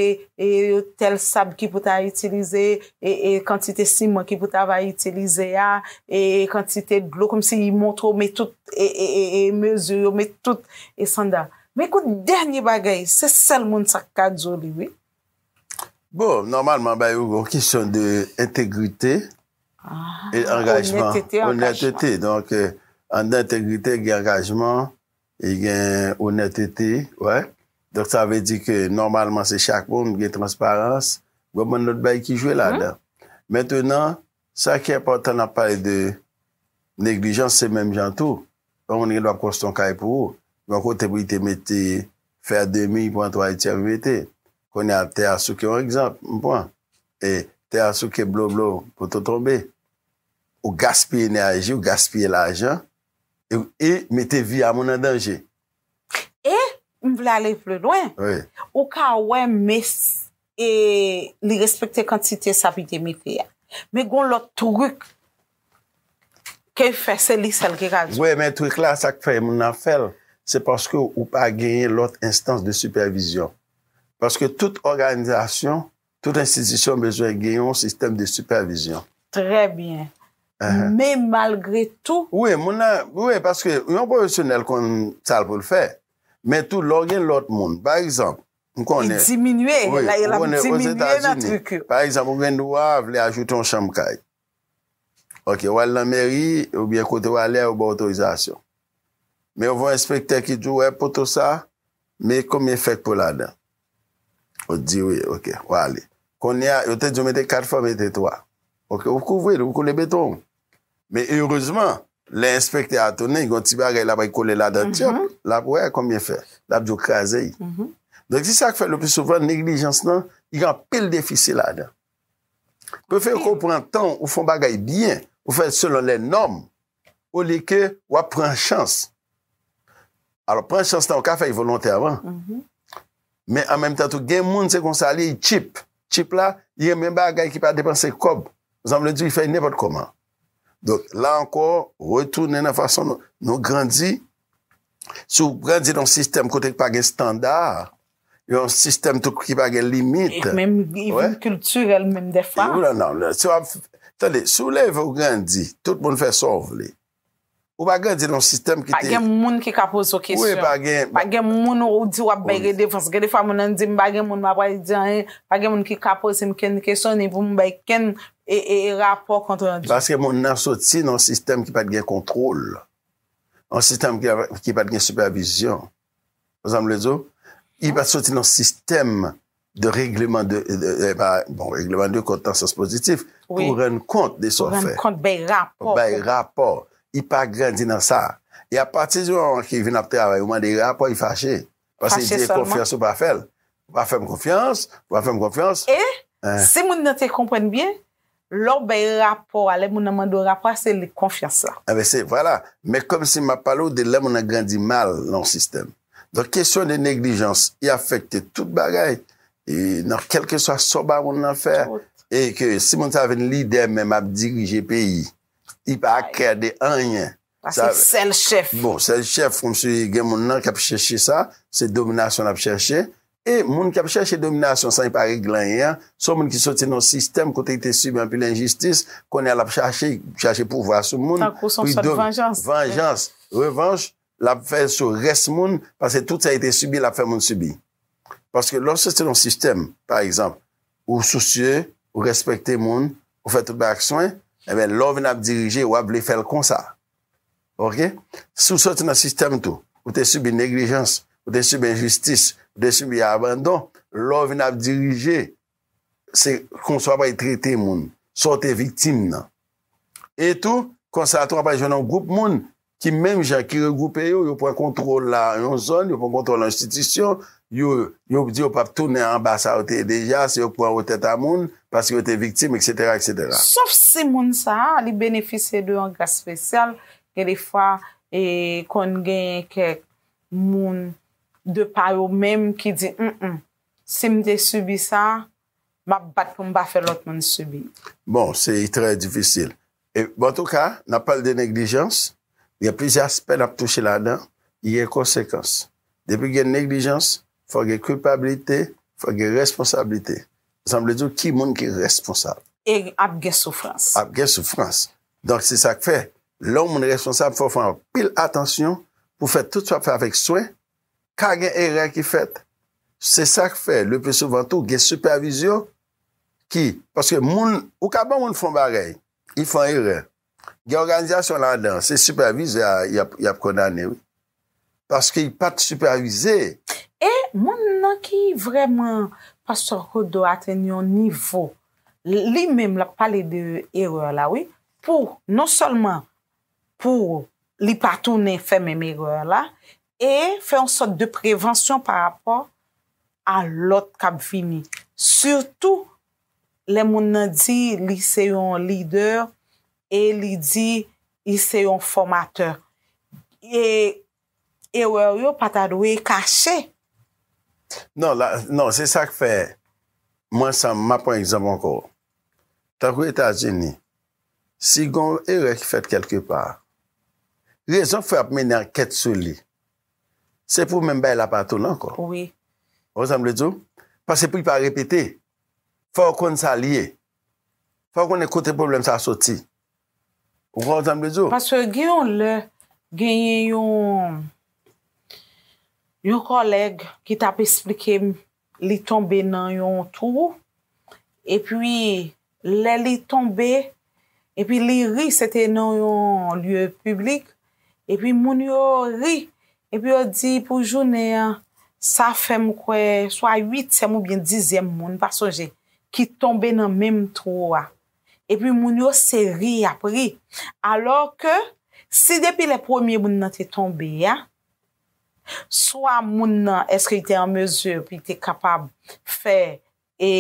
tèl sab ki pou ta itilize e kantite siman ki pou ta va itilize a e kantite dlo kòmsi montre w met tout e mezi yo met tout estanda. Men kout dènye bagay se sèl moun sa k ka di w li wi. Bon, nòmalman ba yo gon kesyon de entegrite e angajman. Onètete, angajman. Onètete, donk anndan entegrite gen angajman e gen onètete, wè. Donk sa vle di ke nòmalman se chak moun gen transparans, gon bann lòt bagay ki jwe ladan. Mentenan, Sa ki enpòtan lè nap pale de neglijans se menm jan tou, yon moun gen dwa ap konstwi yon kay pou ou, gen yon kote pou li te mete fè a demi pran twa li tyanm li mete, kounye a tè a souke yon egzanp m pran, e tè a souke blo blo poto tonbe, ou gaspiye enèji ou gaspiye lajan e mete vi a moun an danje. E m vle ale pli lwen, ou ka wè mes e li respekte kantite sa pite mete a. Men gon lòt truk ke l fè se li sèl ki ka di. Wè men truk la sak fè moun nan fè l se paske ou pa genyen lòt enstans de sipèvizyon. Paske tout òganizasyon, tout enstitisyon bezwen gen yon sistèm de sipèvizyon. Trè byen. Men malgre tou. Wi moun nan, wi paske yon pwofesyonèl konn sa l pou l fè. Men tou lè w gen lòt moun. Pa egzanp, M konnen. Li diminye. Wi. M konnen Ozetazini. Pa egzanp, ou gen dwa vle ajoute yon chanm kay. Ok. Ou al nan mèri oubyen kote ou ale a yo ba w otorizasyon. Men yo voye enspektè ki di w, wè poto sa, men konbyen fèk pou ladan. Ou t di wi. Ok. Ou ale. Kounye a, yo te di w mete 4 fò mete 3. Ok. Ou kouvri l, ou koule beton w. Men erezman, lè enspektè a tounen, gen yon ti bagay l ap al kole ladan, tyòp, l ap wè konbyen fè. L ap di w kraze l. Donk, se sa k fè lepli souvan neglijans lan gen anpil defisi ladan. Prefere ke w pran tan w, ou fè yon bagay byen, ou fè l selon lè nòm, olye ke w ap pran chans. Alò, pran chans lan, ou ka fè l volontèman. Men an menm tan tou gen moun se konsa li ye tchip. Tchip la li renmen bagay ki pa depanse kòb. Sa m vle di li fè nenpòt kòman. Donk la ankò retounen nan fason nou grandi. Si w grandi nan yon sistèm kote ki pa gen standa, yon sistèm tou ki pa gen limit. E menm li vin kiltirèl menm dèfwa. Ou la nan. Si w ap, tande, si w leve ou grandi, tout moun fè sa w vle. Ou pa grandi nan yon sistèm ki te. Pa gen moun ki ka poze w kesyon. Wi, pa gen. Pa gen moun ou di w ap bay redevans. Gen defwa moun nan di m pa gen moun m ap pale di anyen. Pa gen moun ki ka poze m kenn kesyon ni pou m bay kenn rapò kont randi. Paske moun nan soti nan yon sistèm ki pa t gen kontwòl. Yon sistèm ki pa t gen sipèvizyon. Ou sa m vle di w? Li pa soti nan sistèm de regleman de, bon regleman de kont nan sans pozitif, pou rann kont de sa w fè. Pou rann kont, bay rapò. Bay rapò. Li pa grandi nan sa. E apati di moman ki vin ap travay, ou mande rapò, li fache. Pase sèlman. Pase li fè konfyans, ou pa fè l. Ou pa fè m konfyans, ou pa fè m konfyans. E si moun nan te konprann byen, Lè w bay rapò a, lè moun nan mande w rapò a, se li konfyans la. Enben se, vwala. Men kòmsi m ap pale w de lè moun nan grandi mal nan yon sistèm. Donk kesyon de neglijans, li afekte tout bagay. E nan kèlkeswa sa w bay moun nan fè. Tout. E ke si moun sa a vin lidè menm ap dirije peyi, li pa aklè de anyen. Pase sèl chèf. Bon sèl chèf kòmsi gen moun nan kap chèche sa, se dominasyon lap chèche e moun kap chèche dominasyon san li pa regle anyen an, se yon moun ki soti nan yon sistèm kote li te sibi anpil enjistis, kounye a lap chache, chache pouvwa sou moun pou li do, vanjans, revanch lap fè sou rès moun pase tout sa li te sibi lap fè moun sibi. Paske lè w soti nan yon sistèm pa egzanp. ou sousye, ou respekte moun, ou fè tout bagay ak swen, enben lè w vin ap dirije w ap vle fè l konsa. Ok? Si w soti nan sistèm tou, ou te sibi neglijans, ou te sibi enjistis, ou te sibi abandon, lè w vin ap dirije, se konsa w apral trete moun, sa w te viktim nan. E tou, konsa tou w apral jwenn yon gwoup moun ki menm jan, ki regwoupe yo, yo pran kontwòl la yon zòn, yo pran kontwòl enstitisyon, yo, yo di yo pap tounen anba sa yo te ye deja, se yo k pran wo tèt a moun, paske yo te viktim, eksetera, eksetera. Sof si moun sa a, li benefisye de yon gras spesyal, gen de fwa, e, konn genyen kèk moun, de pa yo menm, ki di, Mh, si m te sibi sa, Map bat pou m pa fè lòt moun sibi. Bon, se trè difisil. E, bon antouka, nan pale de neglijans, gen plizyè aspè nap touche ladan ki gen konsekans. Depi gen neglijans, fòk gen kilpabilite, fòk gen responsablite. Sa vle di ki moun ki responsab. E ap gen soufrans. Ap gen soufrans. Donk se sak fè, lè yon moun responsab fòk fè anpil atansyon pou fè tout sa wap fè avèk swen, Ka gen erè ki fèt. Se sa k fè, leplisouvan tou, gen sipèvizyon ki. Paske moun, ou ka ban moun fè yon bagay, li fè yon erè. Gen òganizasyon ladan, se sipèvizè a y ap kondane wi. Paske li pa t sipèvize. E moun nan ki vrèman. Pastè Kodo atenn yon nivo, li menm l ap pale de erè la wi, pou non sèlman pou li pa tounen fè menm erè la, e fè yon sòt de prevansyon pa rapò a lòt k ap vini. Sitou lè moun nan di li se yon lidè e li di li se yon fòmatè. E erè w yo pa ta dwe kache. Non, la, non, se sa k fè mwen san, m ap pran egzanp ankò. Tankou Etazini, Si gen yon erè ki fèt kèlke pa, rezon k fè ap mennen ankèt sou li, se pou menm bagay la pa tounen ankò. Ou konprann sa m vle di w? Paske pou li pa repete, fò yo konn sa li ye. Fò yo konnen kote pwoblèm sa a soti. Ou konprann sa m vle di w? Paske gen yon lè, genyen yon kòlèg ki t ap esplike m Li tonbe nan yon twou, epi lè li tonbe, epi li ri, se te nan yon lye piblik, epi moun yo ri, epi yo di pou jounen an, sa fè m kwè swa uityèm oubyen dizyèm moun, m pa sonje, ki tonbe nan menm twou a. Epi moun yo se ri y ap ri. Alò ke, si depi lè premye moun nan te tonbe a, Swa moun nan èske li te an mezi pou li te kapab fè e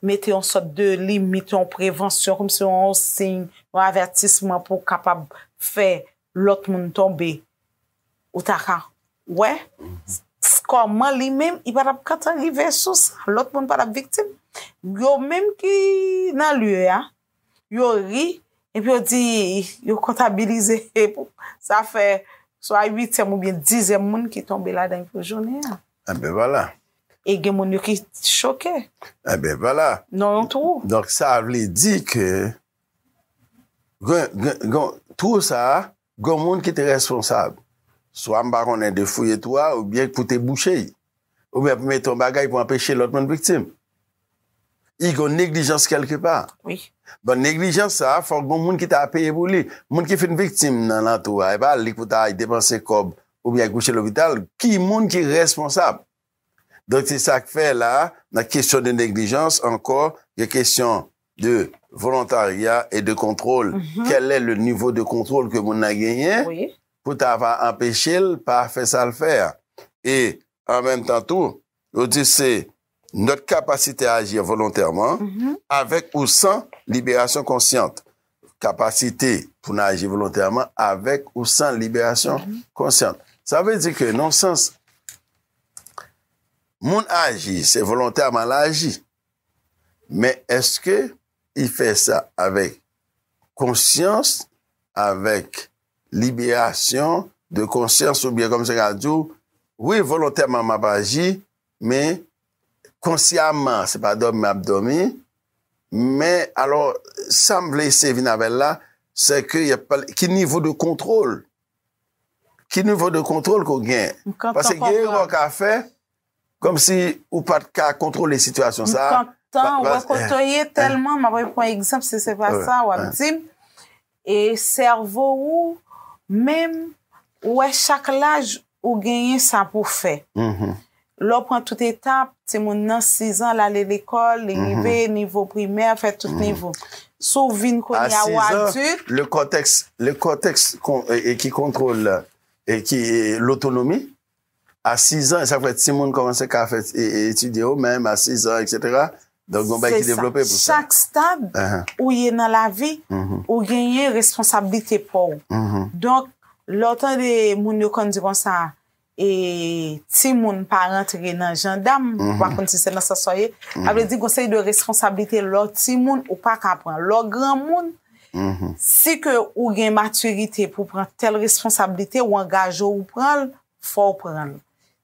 mete yon sòt de limit, yon prevansyon kòm si yon siy, yon avètisman pou kapab fè lòt moun tonbe. Ou ta ka wè kòman li menm li pa tap kantan rive sou sa, lòt moun pa tap viktim. Yo menm ki nan lye a. yo ri, epi yo di, yo kontabilize, sa fè swa uityèm ou byen dizyèm moun ki tonbe la dan pou jounen an. E byen vwala. E gen moun yo ki choke. E byen vwala. Non yon twou. Donk sa vle di ke, gen, gen, gen, twou sa a, Gon moun ki te responsab, swa m pa konnen de fouye twou a oubyen pou te bouche i, oubyen pou mete yon bagay pou anpeche lòt moun viktim. I gon neglijans kèlke pa. Wi. Bon neglijans sa a fòk gon moun ki ta peye pou li. Moun ki fin viktim nan nan twou a, e pa li pou ta al depanse kòb oubyen al kouche lopital, ki moun ki responsab? Donk se sa k fè la a, nan kesyon de neglijans ankò, gen kesyon de volontarya e de kontwòl. Kèlè le nivo de kontwòl ke moun nan genyen pou ta va anpeche l pa fè sa l fè a? E an menm tan tou, yo di se nòt kapasite a aji envolontèman, avèk ou san liberasyon konsyant. kapasite pou n aji volontèman avèk ou san liberasyon konsyans. Sa vle di ke nan yon sans, moun aji, se volontèman l aji, men èske li fè sa avèk konsyans, avèk liberasyon de konsyans oubyen kòm si yo ta di w, wi volontèman m ap aji, Men, konsyaman, se pa dòmi m ap dòmi, men, alò, sa m vle eseye vin avè l la, se ke y ap pale, ki nivo de kontwòl, ki nivo de kontwòl ke w gen? M kontan konprann. Paske gen erè w ka fè, kòm si ou pa t ka kontwòle sitiyasyon sa a. M kontan wè kote w ye, tèlman, m ap pran egzanp, si se pa sa, w ap di m, E sèvo ou menm, ou wè chak laj ou genyen sa pou w fè. Lè w pran tout etap, timoun nan sizan l ale lekòl, li rive nivo primè, fè tout nivo. Si w vin kounye a ou adilt. Le kòtèks ki kontwole lotonomi. A 6 ans, sa fè timoun kòmanse ka fè etidye yo menm, a 6 ans etc. Donk gon bagay ki devlope pou sa. Se sa, chak stad ou ye nan lavi, ou genyen responsablite pa w. Donk, lè w tande moun yo konn di konsa, e timoun pa rantre nan jandam, m pa konn si se nan sans sa w ye, sa vle di gon seri de responsablite lè w timoun ou pa ka pran. Lè w granmoun. Si ke ou gen matirite pou pran tèl responsablite, ou angaje w ou pran l, fò w pran l.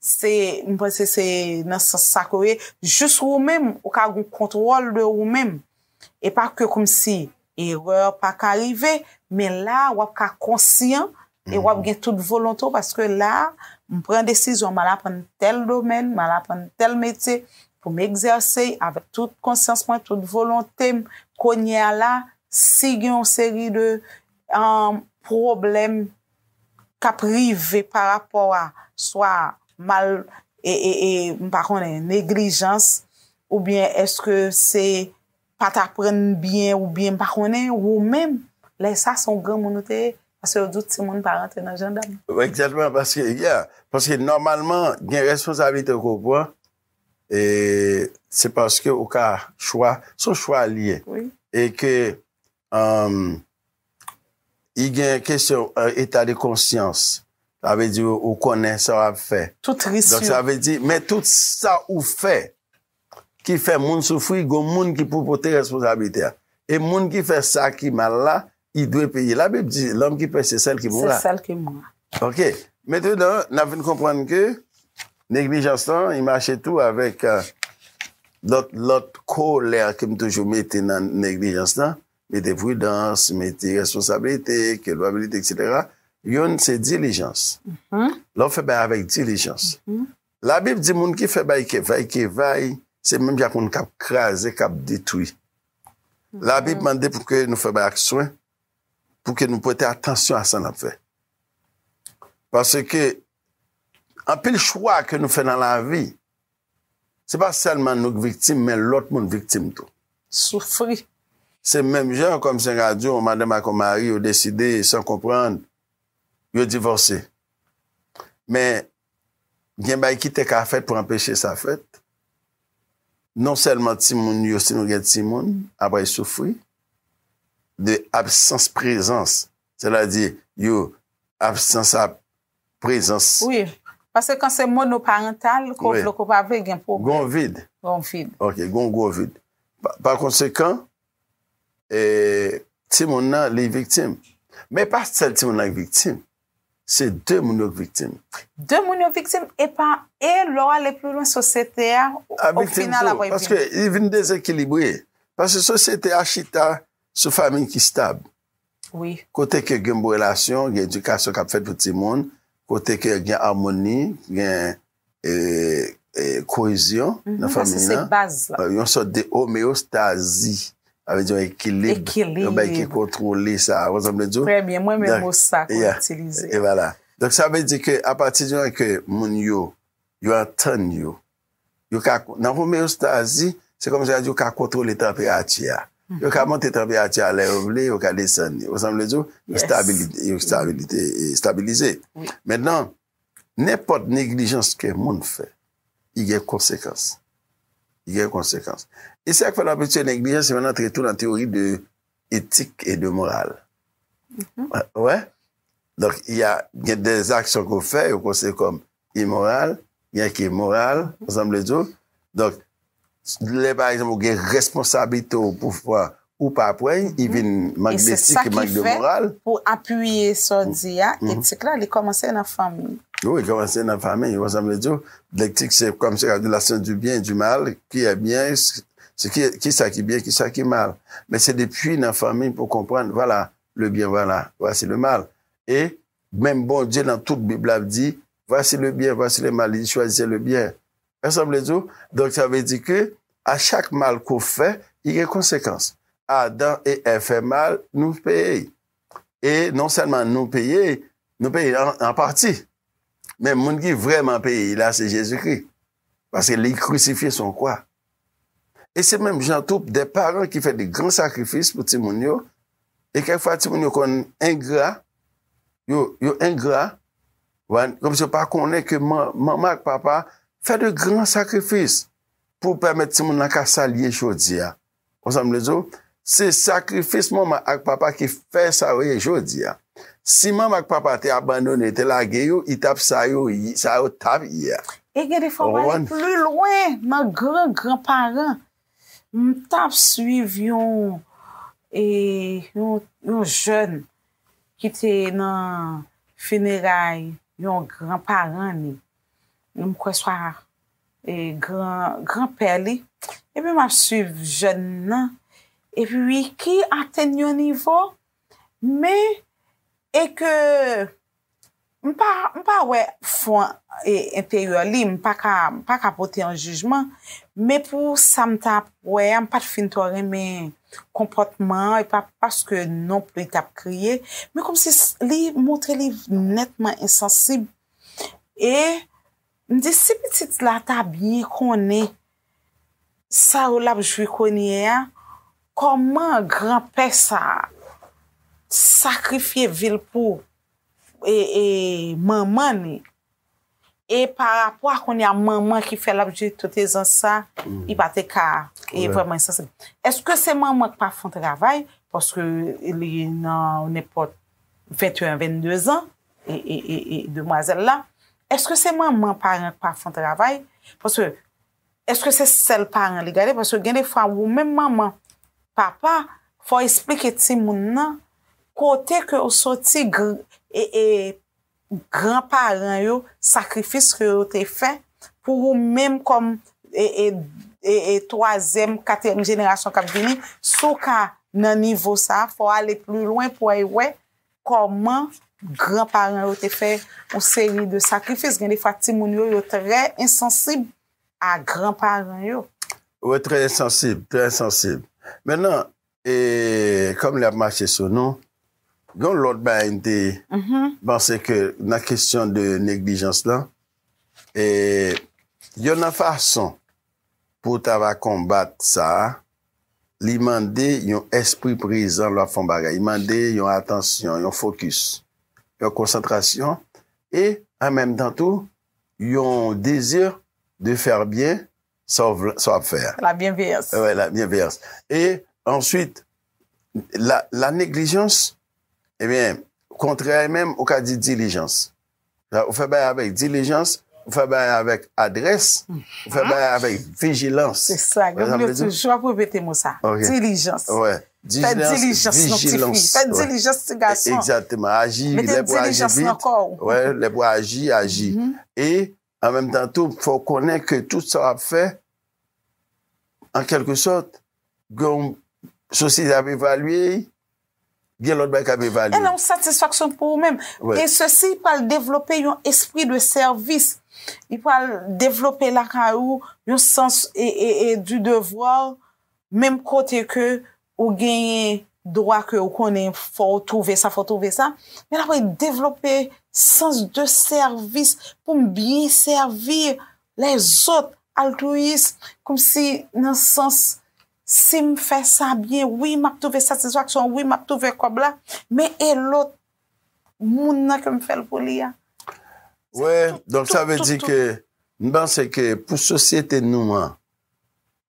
Se, m panse se nan sans sa ke ou ye. Jis ou menm, ou ka gen yon kontwòl de ou menm. E pa ke kòmsi erè pa ka rive, men la a w ap ka konsyan E wap gen tout volonte paske la, m pran desizyon m al aprann tèl domèn, m al aprann tèl metye pou m egzèse avèk tout konsyans mwen, tout volonte m. Kounye a la, si gen yon seri de pwoblèm k ap rive pa rapò a swa mal e m pa konnen neglijans oubyen eske se pa t aprann byen oubyen m pa konnen, ou menm, lè sa se yon granmoun ou te ye, paske yo di w timoun pa rantre nan jandam. Egzatman, paske, ya, paske nòmalman gen responsablite ke w pran e se paske ou ka chwa, se yon chwa li ye e ke Humm y gen kesyon eta de konsyans sa vle di ou konnen sa wap fè donk sa vle di men tout sa ou fè ki fè moun soufri gon moun ki pou pote responsablite a e moun ki fè sa ki mal la li dwe peye la bib di lòm ki pèse sèl ki mourra. Ok, mentenan n ap vin konprann ke neglijans lan li mache tou avèk lòt lòt korolè ke m toujou mete nan neglijans lan, mete pridans, mete responsabilite, kilpabilite eksetera, youn se dilijans. Lè w fè bagay avèk dilijans. Labib di moun ki fè bagay ke vay ke vay se menm jan ak moun k ap kraze, k ap detwi. Labib mande pou ke nou fè bagay ak swen, pou ke nou prete atansyon a sa nap fè. Pase ke, anpil chwa ke nou fè nan lavi, se pa sèlman nou k viktim, men lòt moun viktim tou. Soufri. Se menm jan, kòm se ka di, yon madanm ak yon mari yo deside, san konprann, yo divòse. Men, Gen bagay ki te ka fèt pou anpeche sa fèt. Non sèlman timoun yo, si nou gen timoun, ap al soufri de absans prezans, sètadi yo absans ap prezans. Wi, paske kan se monoparantal, ko vle ko pa vle gen pwoblèm. Gon vid. Gon vid. Ok, gon gwo vid. Pa konsekan, timoun nan li viktim. Men pa sèl timoun nan ki viktim. Se 2 moun yo k viktim. 2 moun yo viktim epa e lè w ale pli lwen sosyete a o final ap revini. Paske li vin dezekilibre. Paske sosyete a chita sou fanmi ki stab. Wi. Kote ke gen bon relasyon, gen edikasyon k ap fèt pou timoun, kote ke gen amoni, gen Koezyon nan fanmi nan, yon sòt de omeyostazi, sa vle di yon ekilib, yon bagay ki kontwole sa. Ou konprann sa m vle di ou? Trè byen, mwen menm mo sa ke m itilize. E vwala. Donk sa vle di ke apati di moman ke moun yo, yo antann yo, yo ka, nan omeyostazi, se kòm si yo ka kontwole tanperati a. Yo ka monte tanperati a lè yo vle, yo ka desann li. Ou konprann sa m vle di ou? Yo stabilize. Men nan, Nenpòt neglijans ke moun fè, li gen konsekans. Li gen konsekans. E se sa k fè lè w ap etidye neglijans, se lè w antre tou nan teyori de etik e de moral. Ou wè? Donk, y a, gen de aksyon ke w fè, yo konsidere kòm imoral, gen ki moral, ou sa m vle di w? Donk, Lè pa egzanp ou gen responsablite ou pou fwa ou pa pweny, i vin mank desik, i mank de moral. E se sa ki fè, pou apiye sa w di a, etik la li kòmanse nan fanmi. Wi, kòmanse nan fanmi. Wè sa m vle di w? Letik se kòm se relasyon di byen, di mal, ki e byen, ki sa ki byen, ki sa ki mal. Men se depi nan fanmi pou konprann, vwala le byen, vwala, vwasi le mal. E menm Bondye nan tout Bib la ap di, vwasi le byen, vwasi le mal, li di chwazise le byen. Èske sa vle di w? Donk sa vle di ke a chak mal ke w fè, li gen konsekans. Adan e Èv fè mal, nou peye l. E non sèlman nou peye l, nou peye l an pati. Men moun ki vrèman peye l la se Jezikri. Paske li krisifye sou yon kwa. E se menm jan tou de paran ki fè de gran sakrifis pou timoun yo, e kèk fwa timoun yo konn engra, yo engra, Kòm si yo pa konnen ke manman ak papa fè de gran sakrifis pou pèmèt timoun lan ka sa l ye jodi a. Konprann sa m vle di w? Se sakrifis manman ak papa ki fè sa yo ye jodi a. Si manman ak papa te abandone, te lage yo, yo t ap sa yo t ap ye a. E gen de fwa w ale pli lwen nan gran gran paran. M t ap swiv yon jèn ki te nan fineray yon gran paran ni, m kwè swa gran gran pè li, epi map swiv jèn nan, epi wi ki atenn yon nivo, men e ke M pa m pa wè fon e enteryè li, m pa ka m pa ka pote yon jijman, men pou sa m ta wè a m pat fin twò renmen konpòtman an e pa paske non pli li tap kriye, men kòmsi li montre li nètman ensansib e m di si pitit la ta byen konnen sa yo lap jwi kounye a, kòman granpè sa sakrifye vi l pou. manman ni e pa rapò a kounye a manman ki fè l ap jere tout ezans sa li pa te ka vrèman ensansib èske se manman k pa fon travay paske li nan nenpòt 21 an 22 zan e demwazèl la èske se manman paran k pa fon travay paske Eske se sèl paran li gade paske gen de fwa ou menm manman, papa fò esplike timoun nan kote ke ou soti e gran paran yo sakrifis ke yo te fè pou ou menm kòm e twazyèm, katriyèm jenerasyon kap vini si w ka nan nivo sa fò ale pli lwen pou al wè kòman gran paran yo te fè yon seri de sakrifis, gen de fwa ti moun yo yo trè ensansib a gran paran yo. Yo trè ensansib, trè ensansib. Men nan, e, kòm lè ap mache sou nou, gen lòt bagay m te panse ke nan kesyon de neglijans lan, e, yon nan fason Pou ta va konbat sa, li mande yon espri prezan lè w ap fè yon bagay. Li mande yon atansyon, yon fokis, yon konsantrasyon e an menm tan tou yon dezi de fè byen sa w ap fè a. La byenveyans. Wi, la byenveyans. E answit, la neglijans, ebyen, kontrè a menm ou ka di dilijans. Ou fè bagay avèk dilijans, ou fè bagay avèk adrès, ou fè bagay avèk vijilans. Se sa, gen moun yo toujou ap repete mo sa, dilijans. Fè dilijans non ti fi, fè dilijans ti gason. Mete dilijans nan kò ou. Lè pou aji, aji. E An menm tan tou, fò w konnen ke tout sa w ap fè, an kèlke sòt, gen yon sosyete ap evalye, gen lòt bagay k ap evalye. E nan yon satisfaksyon pou ou menm. E sesi pral devlope yon espri de sèvis. Li pral devlope lakay ou yon sans du devoir menm kote ke Ou genyen dwa ke ou konnen fò ou twouve sa, fò ou twouve sa. Men apre devlope sans de sèvis pou m byen sèvi lèzòt, altwiyis, kòmsi nan sans si m fè sa byen, wi m ap twouve satisfaksyon, wi m ap twouve kòb la, men e lòt moun nan ke m fè l pou li a? Wè, donk sa vle di ke m panse ke pou sosyete nou an,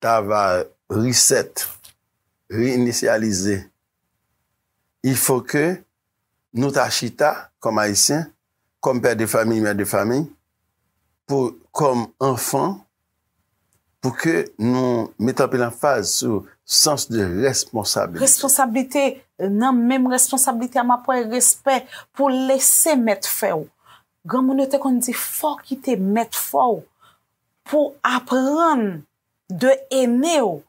ta va reset, re-inisyalize, il faut que nou ta chita kòm Ayisyen, kòm pè de famiy, mè de famiy, pou kòm anfan, pou ke nou met anpil anfaz sou sans de responsabilite. Responsabilite, nan menm responsabilite a map wè respè pou lese mèt fè w. Granmoun yo te konn di fò kite mèt fò w. Pou aprann de ene ou,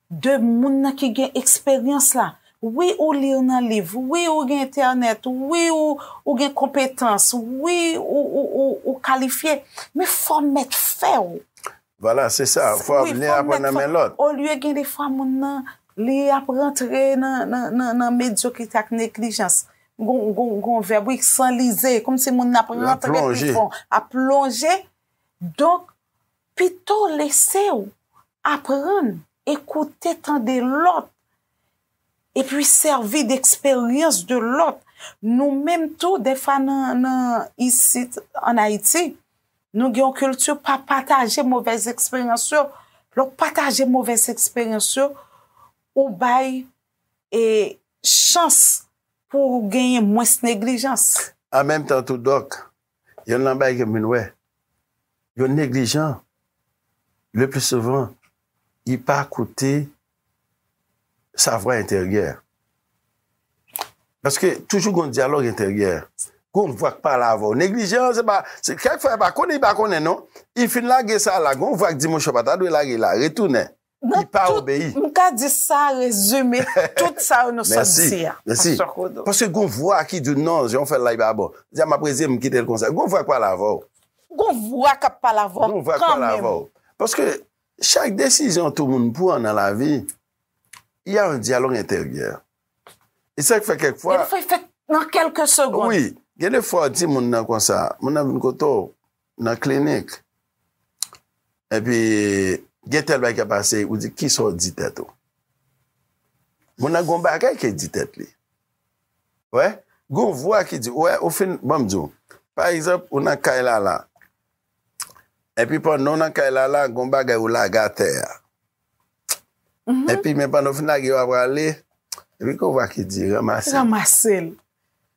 de moun nan ki gen eksperyans la. Wi ou lir nan liv, wi ou gen entènèt, wi ou gen konpetans, wi ou kalifye, men fò mèt fè ou. Vwala, se sa, fò ap nen aprann nan men lòt. Olye gen de fwa moun nan, li ap rantre nan medyokrite ak neglijans. Gon vèb wi, sanlize, kòmsi moun nan ap rantre pi fon, ap plonje. Donk, pito w lese w aprann, ekoute, tande lòt, epi sèvi de eksperyans de lòt. Nou menm tou, defwa nan isit an Ayiti, nou gen yon kilti pa pataje movèz eksperyans yo. Lè w pataje movèz eksperyans yo, ou bay e chans pou genyen mwens neglijans. An menm tan tou dòk, Yonn lan bagay ke m vin wè, yo neglijan, le pli souvan, yi pa koute sa vwa enteryè. Paske toujou gon dyalòg enteryè. Gon vwa k pale avè w. Neglijan, se pa, se kèk fwa yi pa konnen, yi pa konnen non. Yi fin lage sa la, gon vwa k di mouche w pa ta dwe lage la, retounen. Li pa obeyi. M ka di sa rezime tout sa yo nou sot di a. Mèsi. Paske gon vwa ki di w non, jan w fè l la li pa bon. Di a m ap rezime m kite l konsa. Gon vwa k pale avè w. Gon vwa k ap pale avè w kanmenm. Gon vwa k pale avè w. Paske chak desizyon tou moun pran nan lavi, y a yon dyalòg enteryè. E sa k fè kèk fwa. Gen de fwa y fèt nan kèlke segond. Wi. Gen de fwa w di moun nan konsa, moun nan vin kote w, nan klinik epi gen tèl bagay kap pase ou di kisa ou di tèt ou moun nan gon bagay ke di tèt li wè gon vwa ki di wè ou fin banm di ou pa egzanp ou nan kay lala epi pandan ou nan kay lala gon bagay ou lage atè a. Epi men pandan w fin lage yo ap rale, epi gen yon vwa ki di ranmase l. Ranmase l.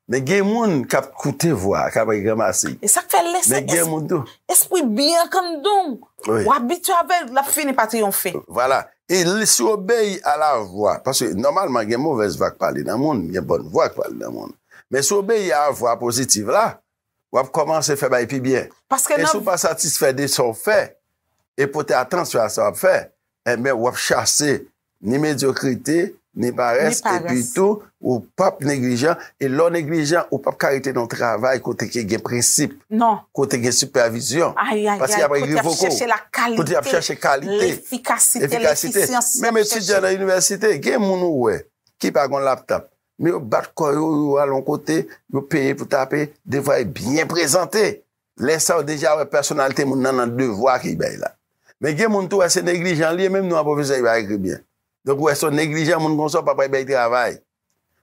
Men gen moun k ap koute vwa a, k ap di ranmase l. E sa k fè lè se espri byen an kandon w, w abitye avè l, l ap fini pa triyonfe. Vwala. E si w obeyi a la vwa, paske nòmalman gen movèz vwa k pale nan moun, gen bòn vwa k pale nan moun. Men si w obeyi a vwa pozitiv la, wap kòmanse fè bagay pi byen. E si w pa satisfè de sa w fè e pote atansyon a sa wap fè, enben wap chase ni medyokrite, ni parès, epi tou ou pap neglijan, e lè w neglijan ou pap ka rete nan yon travay kote ke gen prensip, kote gen sipèvizyon, paske yap rive revoke w, kote yap chache kalite, efikasite, menm etidyan nan inivèsite, gen moun ou wè ki pa gon laptop, men yo bat kò yo, yo al yon kote, yo peye pou tape, devwa yo byen prezante. Lè sa ou deja wè pèsonalite moun nan nan devwa ki bay la. Men gen moun tou wè se neglijan li ye menm non an pwofesè ki pa ekri byen. Donk ou wè se yon neglijan moun konsa ou pa pral bay travay.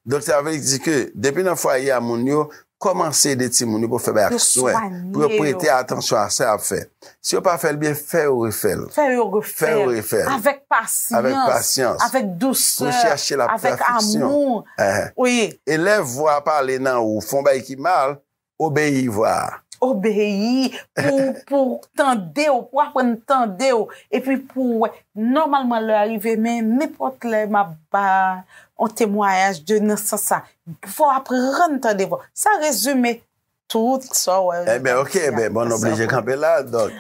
Donk sa vle di ke depi nan fwaye a moun yo Kòmanse ede timoun yo pou yo fè bagay ak swen, pou yo prete atansyon a sa y ap fè. Si yo pa fè l byen, fè yo refè l. Fè yo refè l. Avèk pasyans. Avèk pasyans. Avèk dousè. Pou chèche la pèfeksyon. Avèk amou. Wi. Elèv vwa a pale nan ou, fè yon bagay ki mal, obeyi vwa a. Obeyi pou ou tande ou, pou ou aprann tande ou. Epi pou ou wè. Nòmalman lè a rive men nenpòt lè m ap ba yon temwayaj de nan sans sa. Fò w aprann tande vwa. Sa rezime tout sa w wè yo nan Bib la. Ok, enben, bon, n oblije kanpe la. Donk,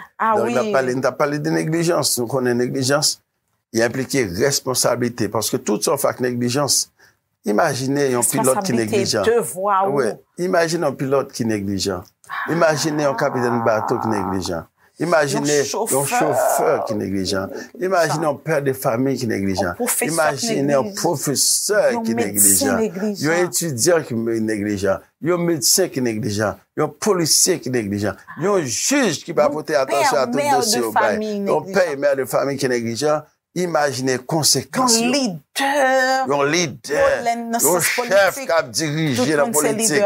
n t ap pale de neglijans. Nou konnen neglijans, li enplike responsablite. Paske tout sa w fè ak neglijans, imajine yon pilòt ki neglijan. Responsablite, devwa ou. Imajine yon pilòt ki neglijan. Imajine yon kapitèn bato ki neglijan. Imajine yon chofè ki neglijan. Imajine yon pè de fami ki neglijan. Imajine yon pwofesè ki neglijan. Yon etidyan ki neglijan. Yon medsen ki neglijan. Yon polisye ki neglijan. Yon jij ki pa pote atansyon a tout dosye yo bay. Yon pè e mè de fami ki neglijan. Imajine konsekans yo. Yon lidè, yon chèf k ap dirije nan politik,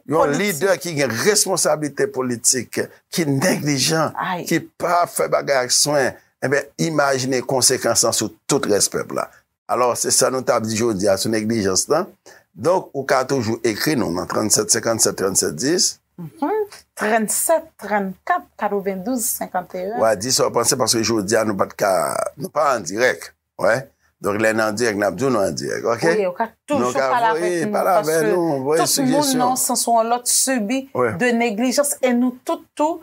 yon lidè ki gen responsablite politik, ki neglijan, ki pa fè bagay ak swen, enben imajine konsekans lan sou tout rès pèp la. Alò, se sa nou t ap di jodi a sou neglijans lan. Donk, ou ka toujou ekri nou nan 37 57 37 10. Mph, 37 34 92 51. Wa di sa w panse paske jodi a nou pa t ka, nou pa an dirèk. Wè? Donk, lè n an dirèk, n ap di w nou an dirèk. Oke? Ou ka toujou pale avèk nou. Pale avèk nou. Tout moun nan yon sans ou yon lòt sibi de neglijans e nou tout tou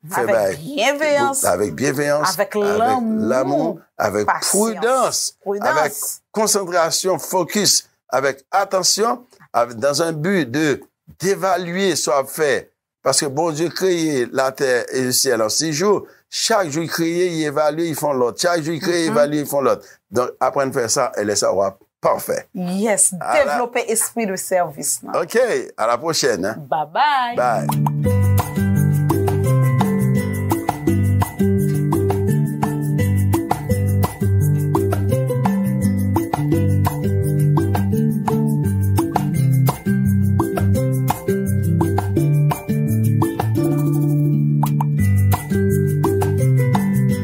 Fè bagay avèk byenveyans, avèk lanmou, avèk pridans, avèk konsantrasyon, fokis, avèk atansyon, dan zan bi de devalye sa w ap fè. Paske Bondye kreye latè e syèl an sis jou, chak jou li kreye, li evalye, li fè yon lòt. Chak jou li kreye, li evalye, li fè yon lòt. Donk, aprann fè sa, e lè sa a w ap. pafè. Yes devlope espri de sèvis nan. Ok a la pwochèn. Babay.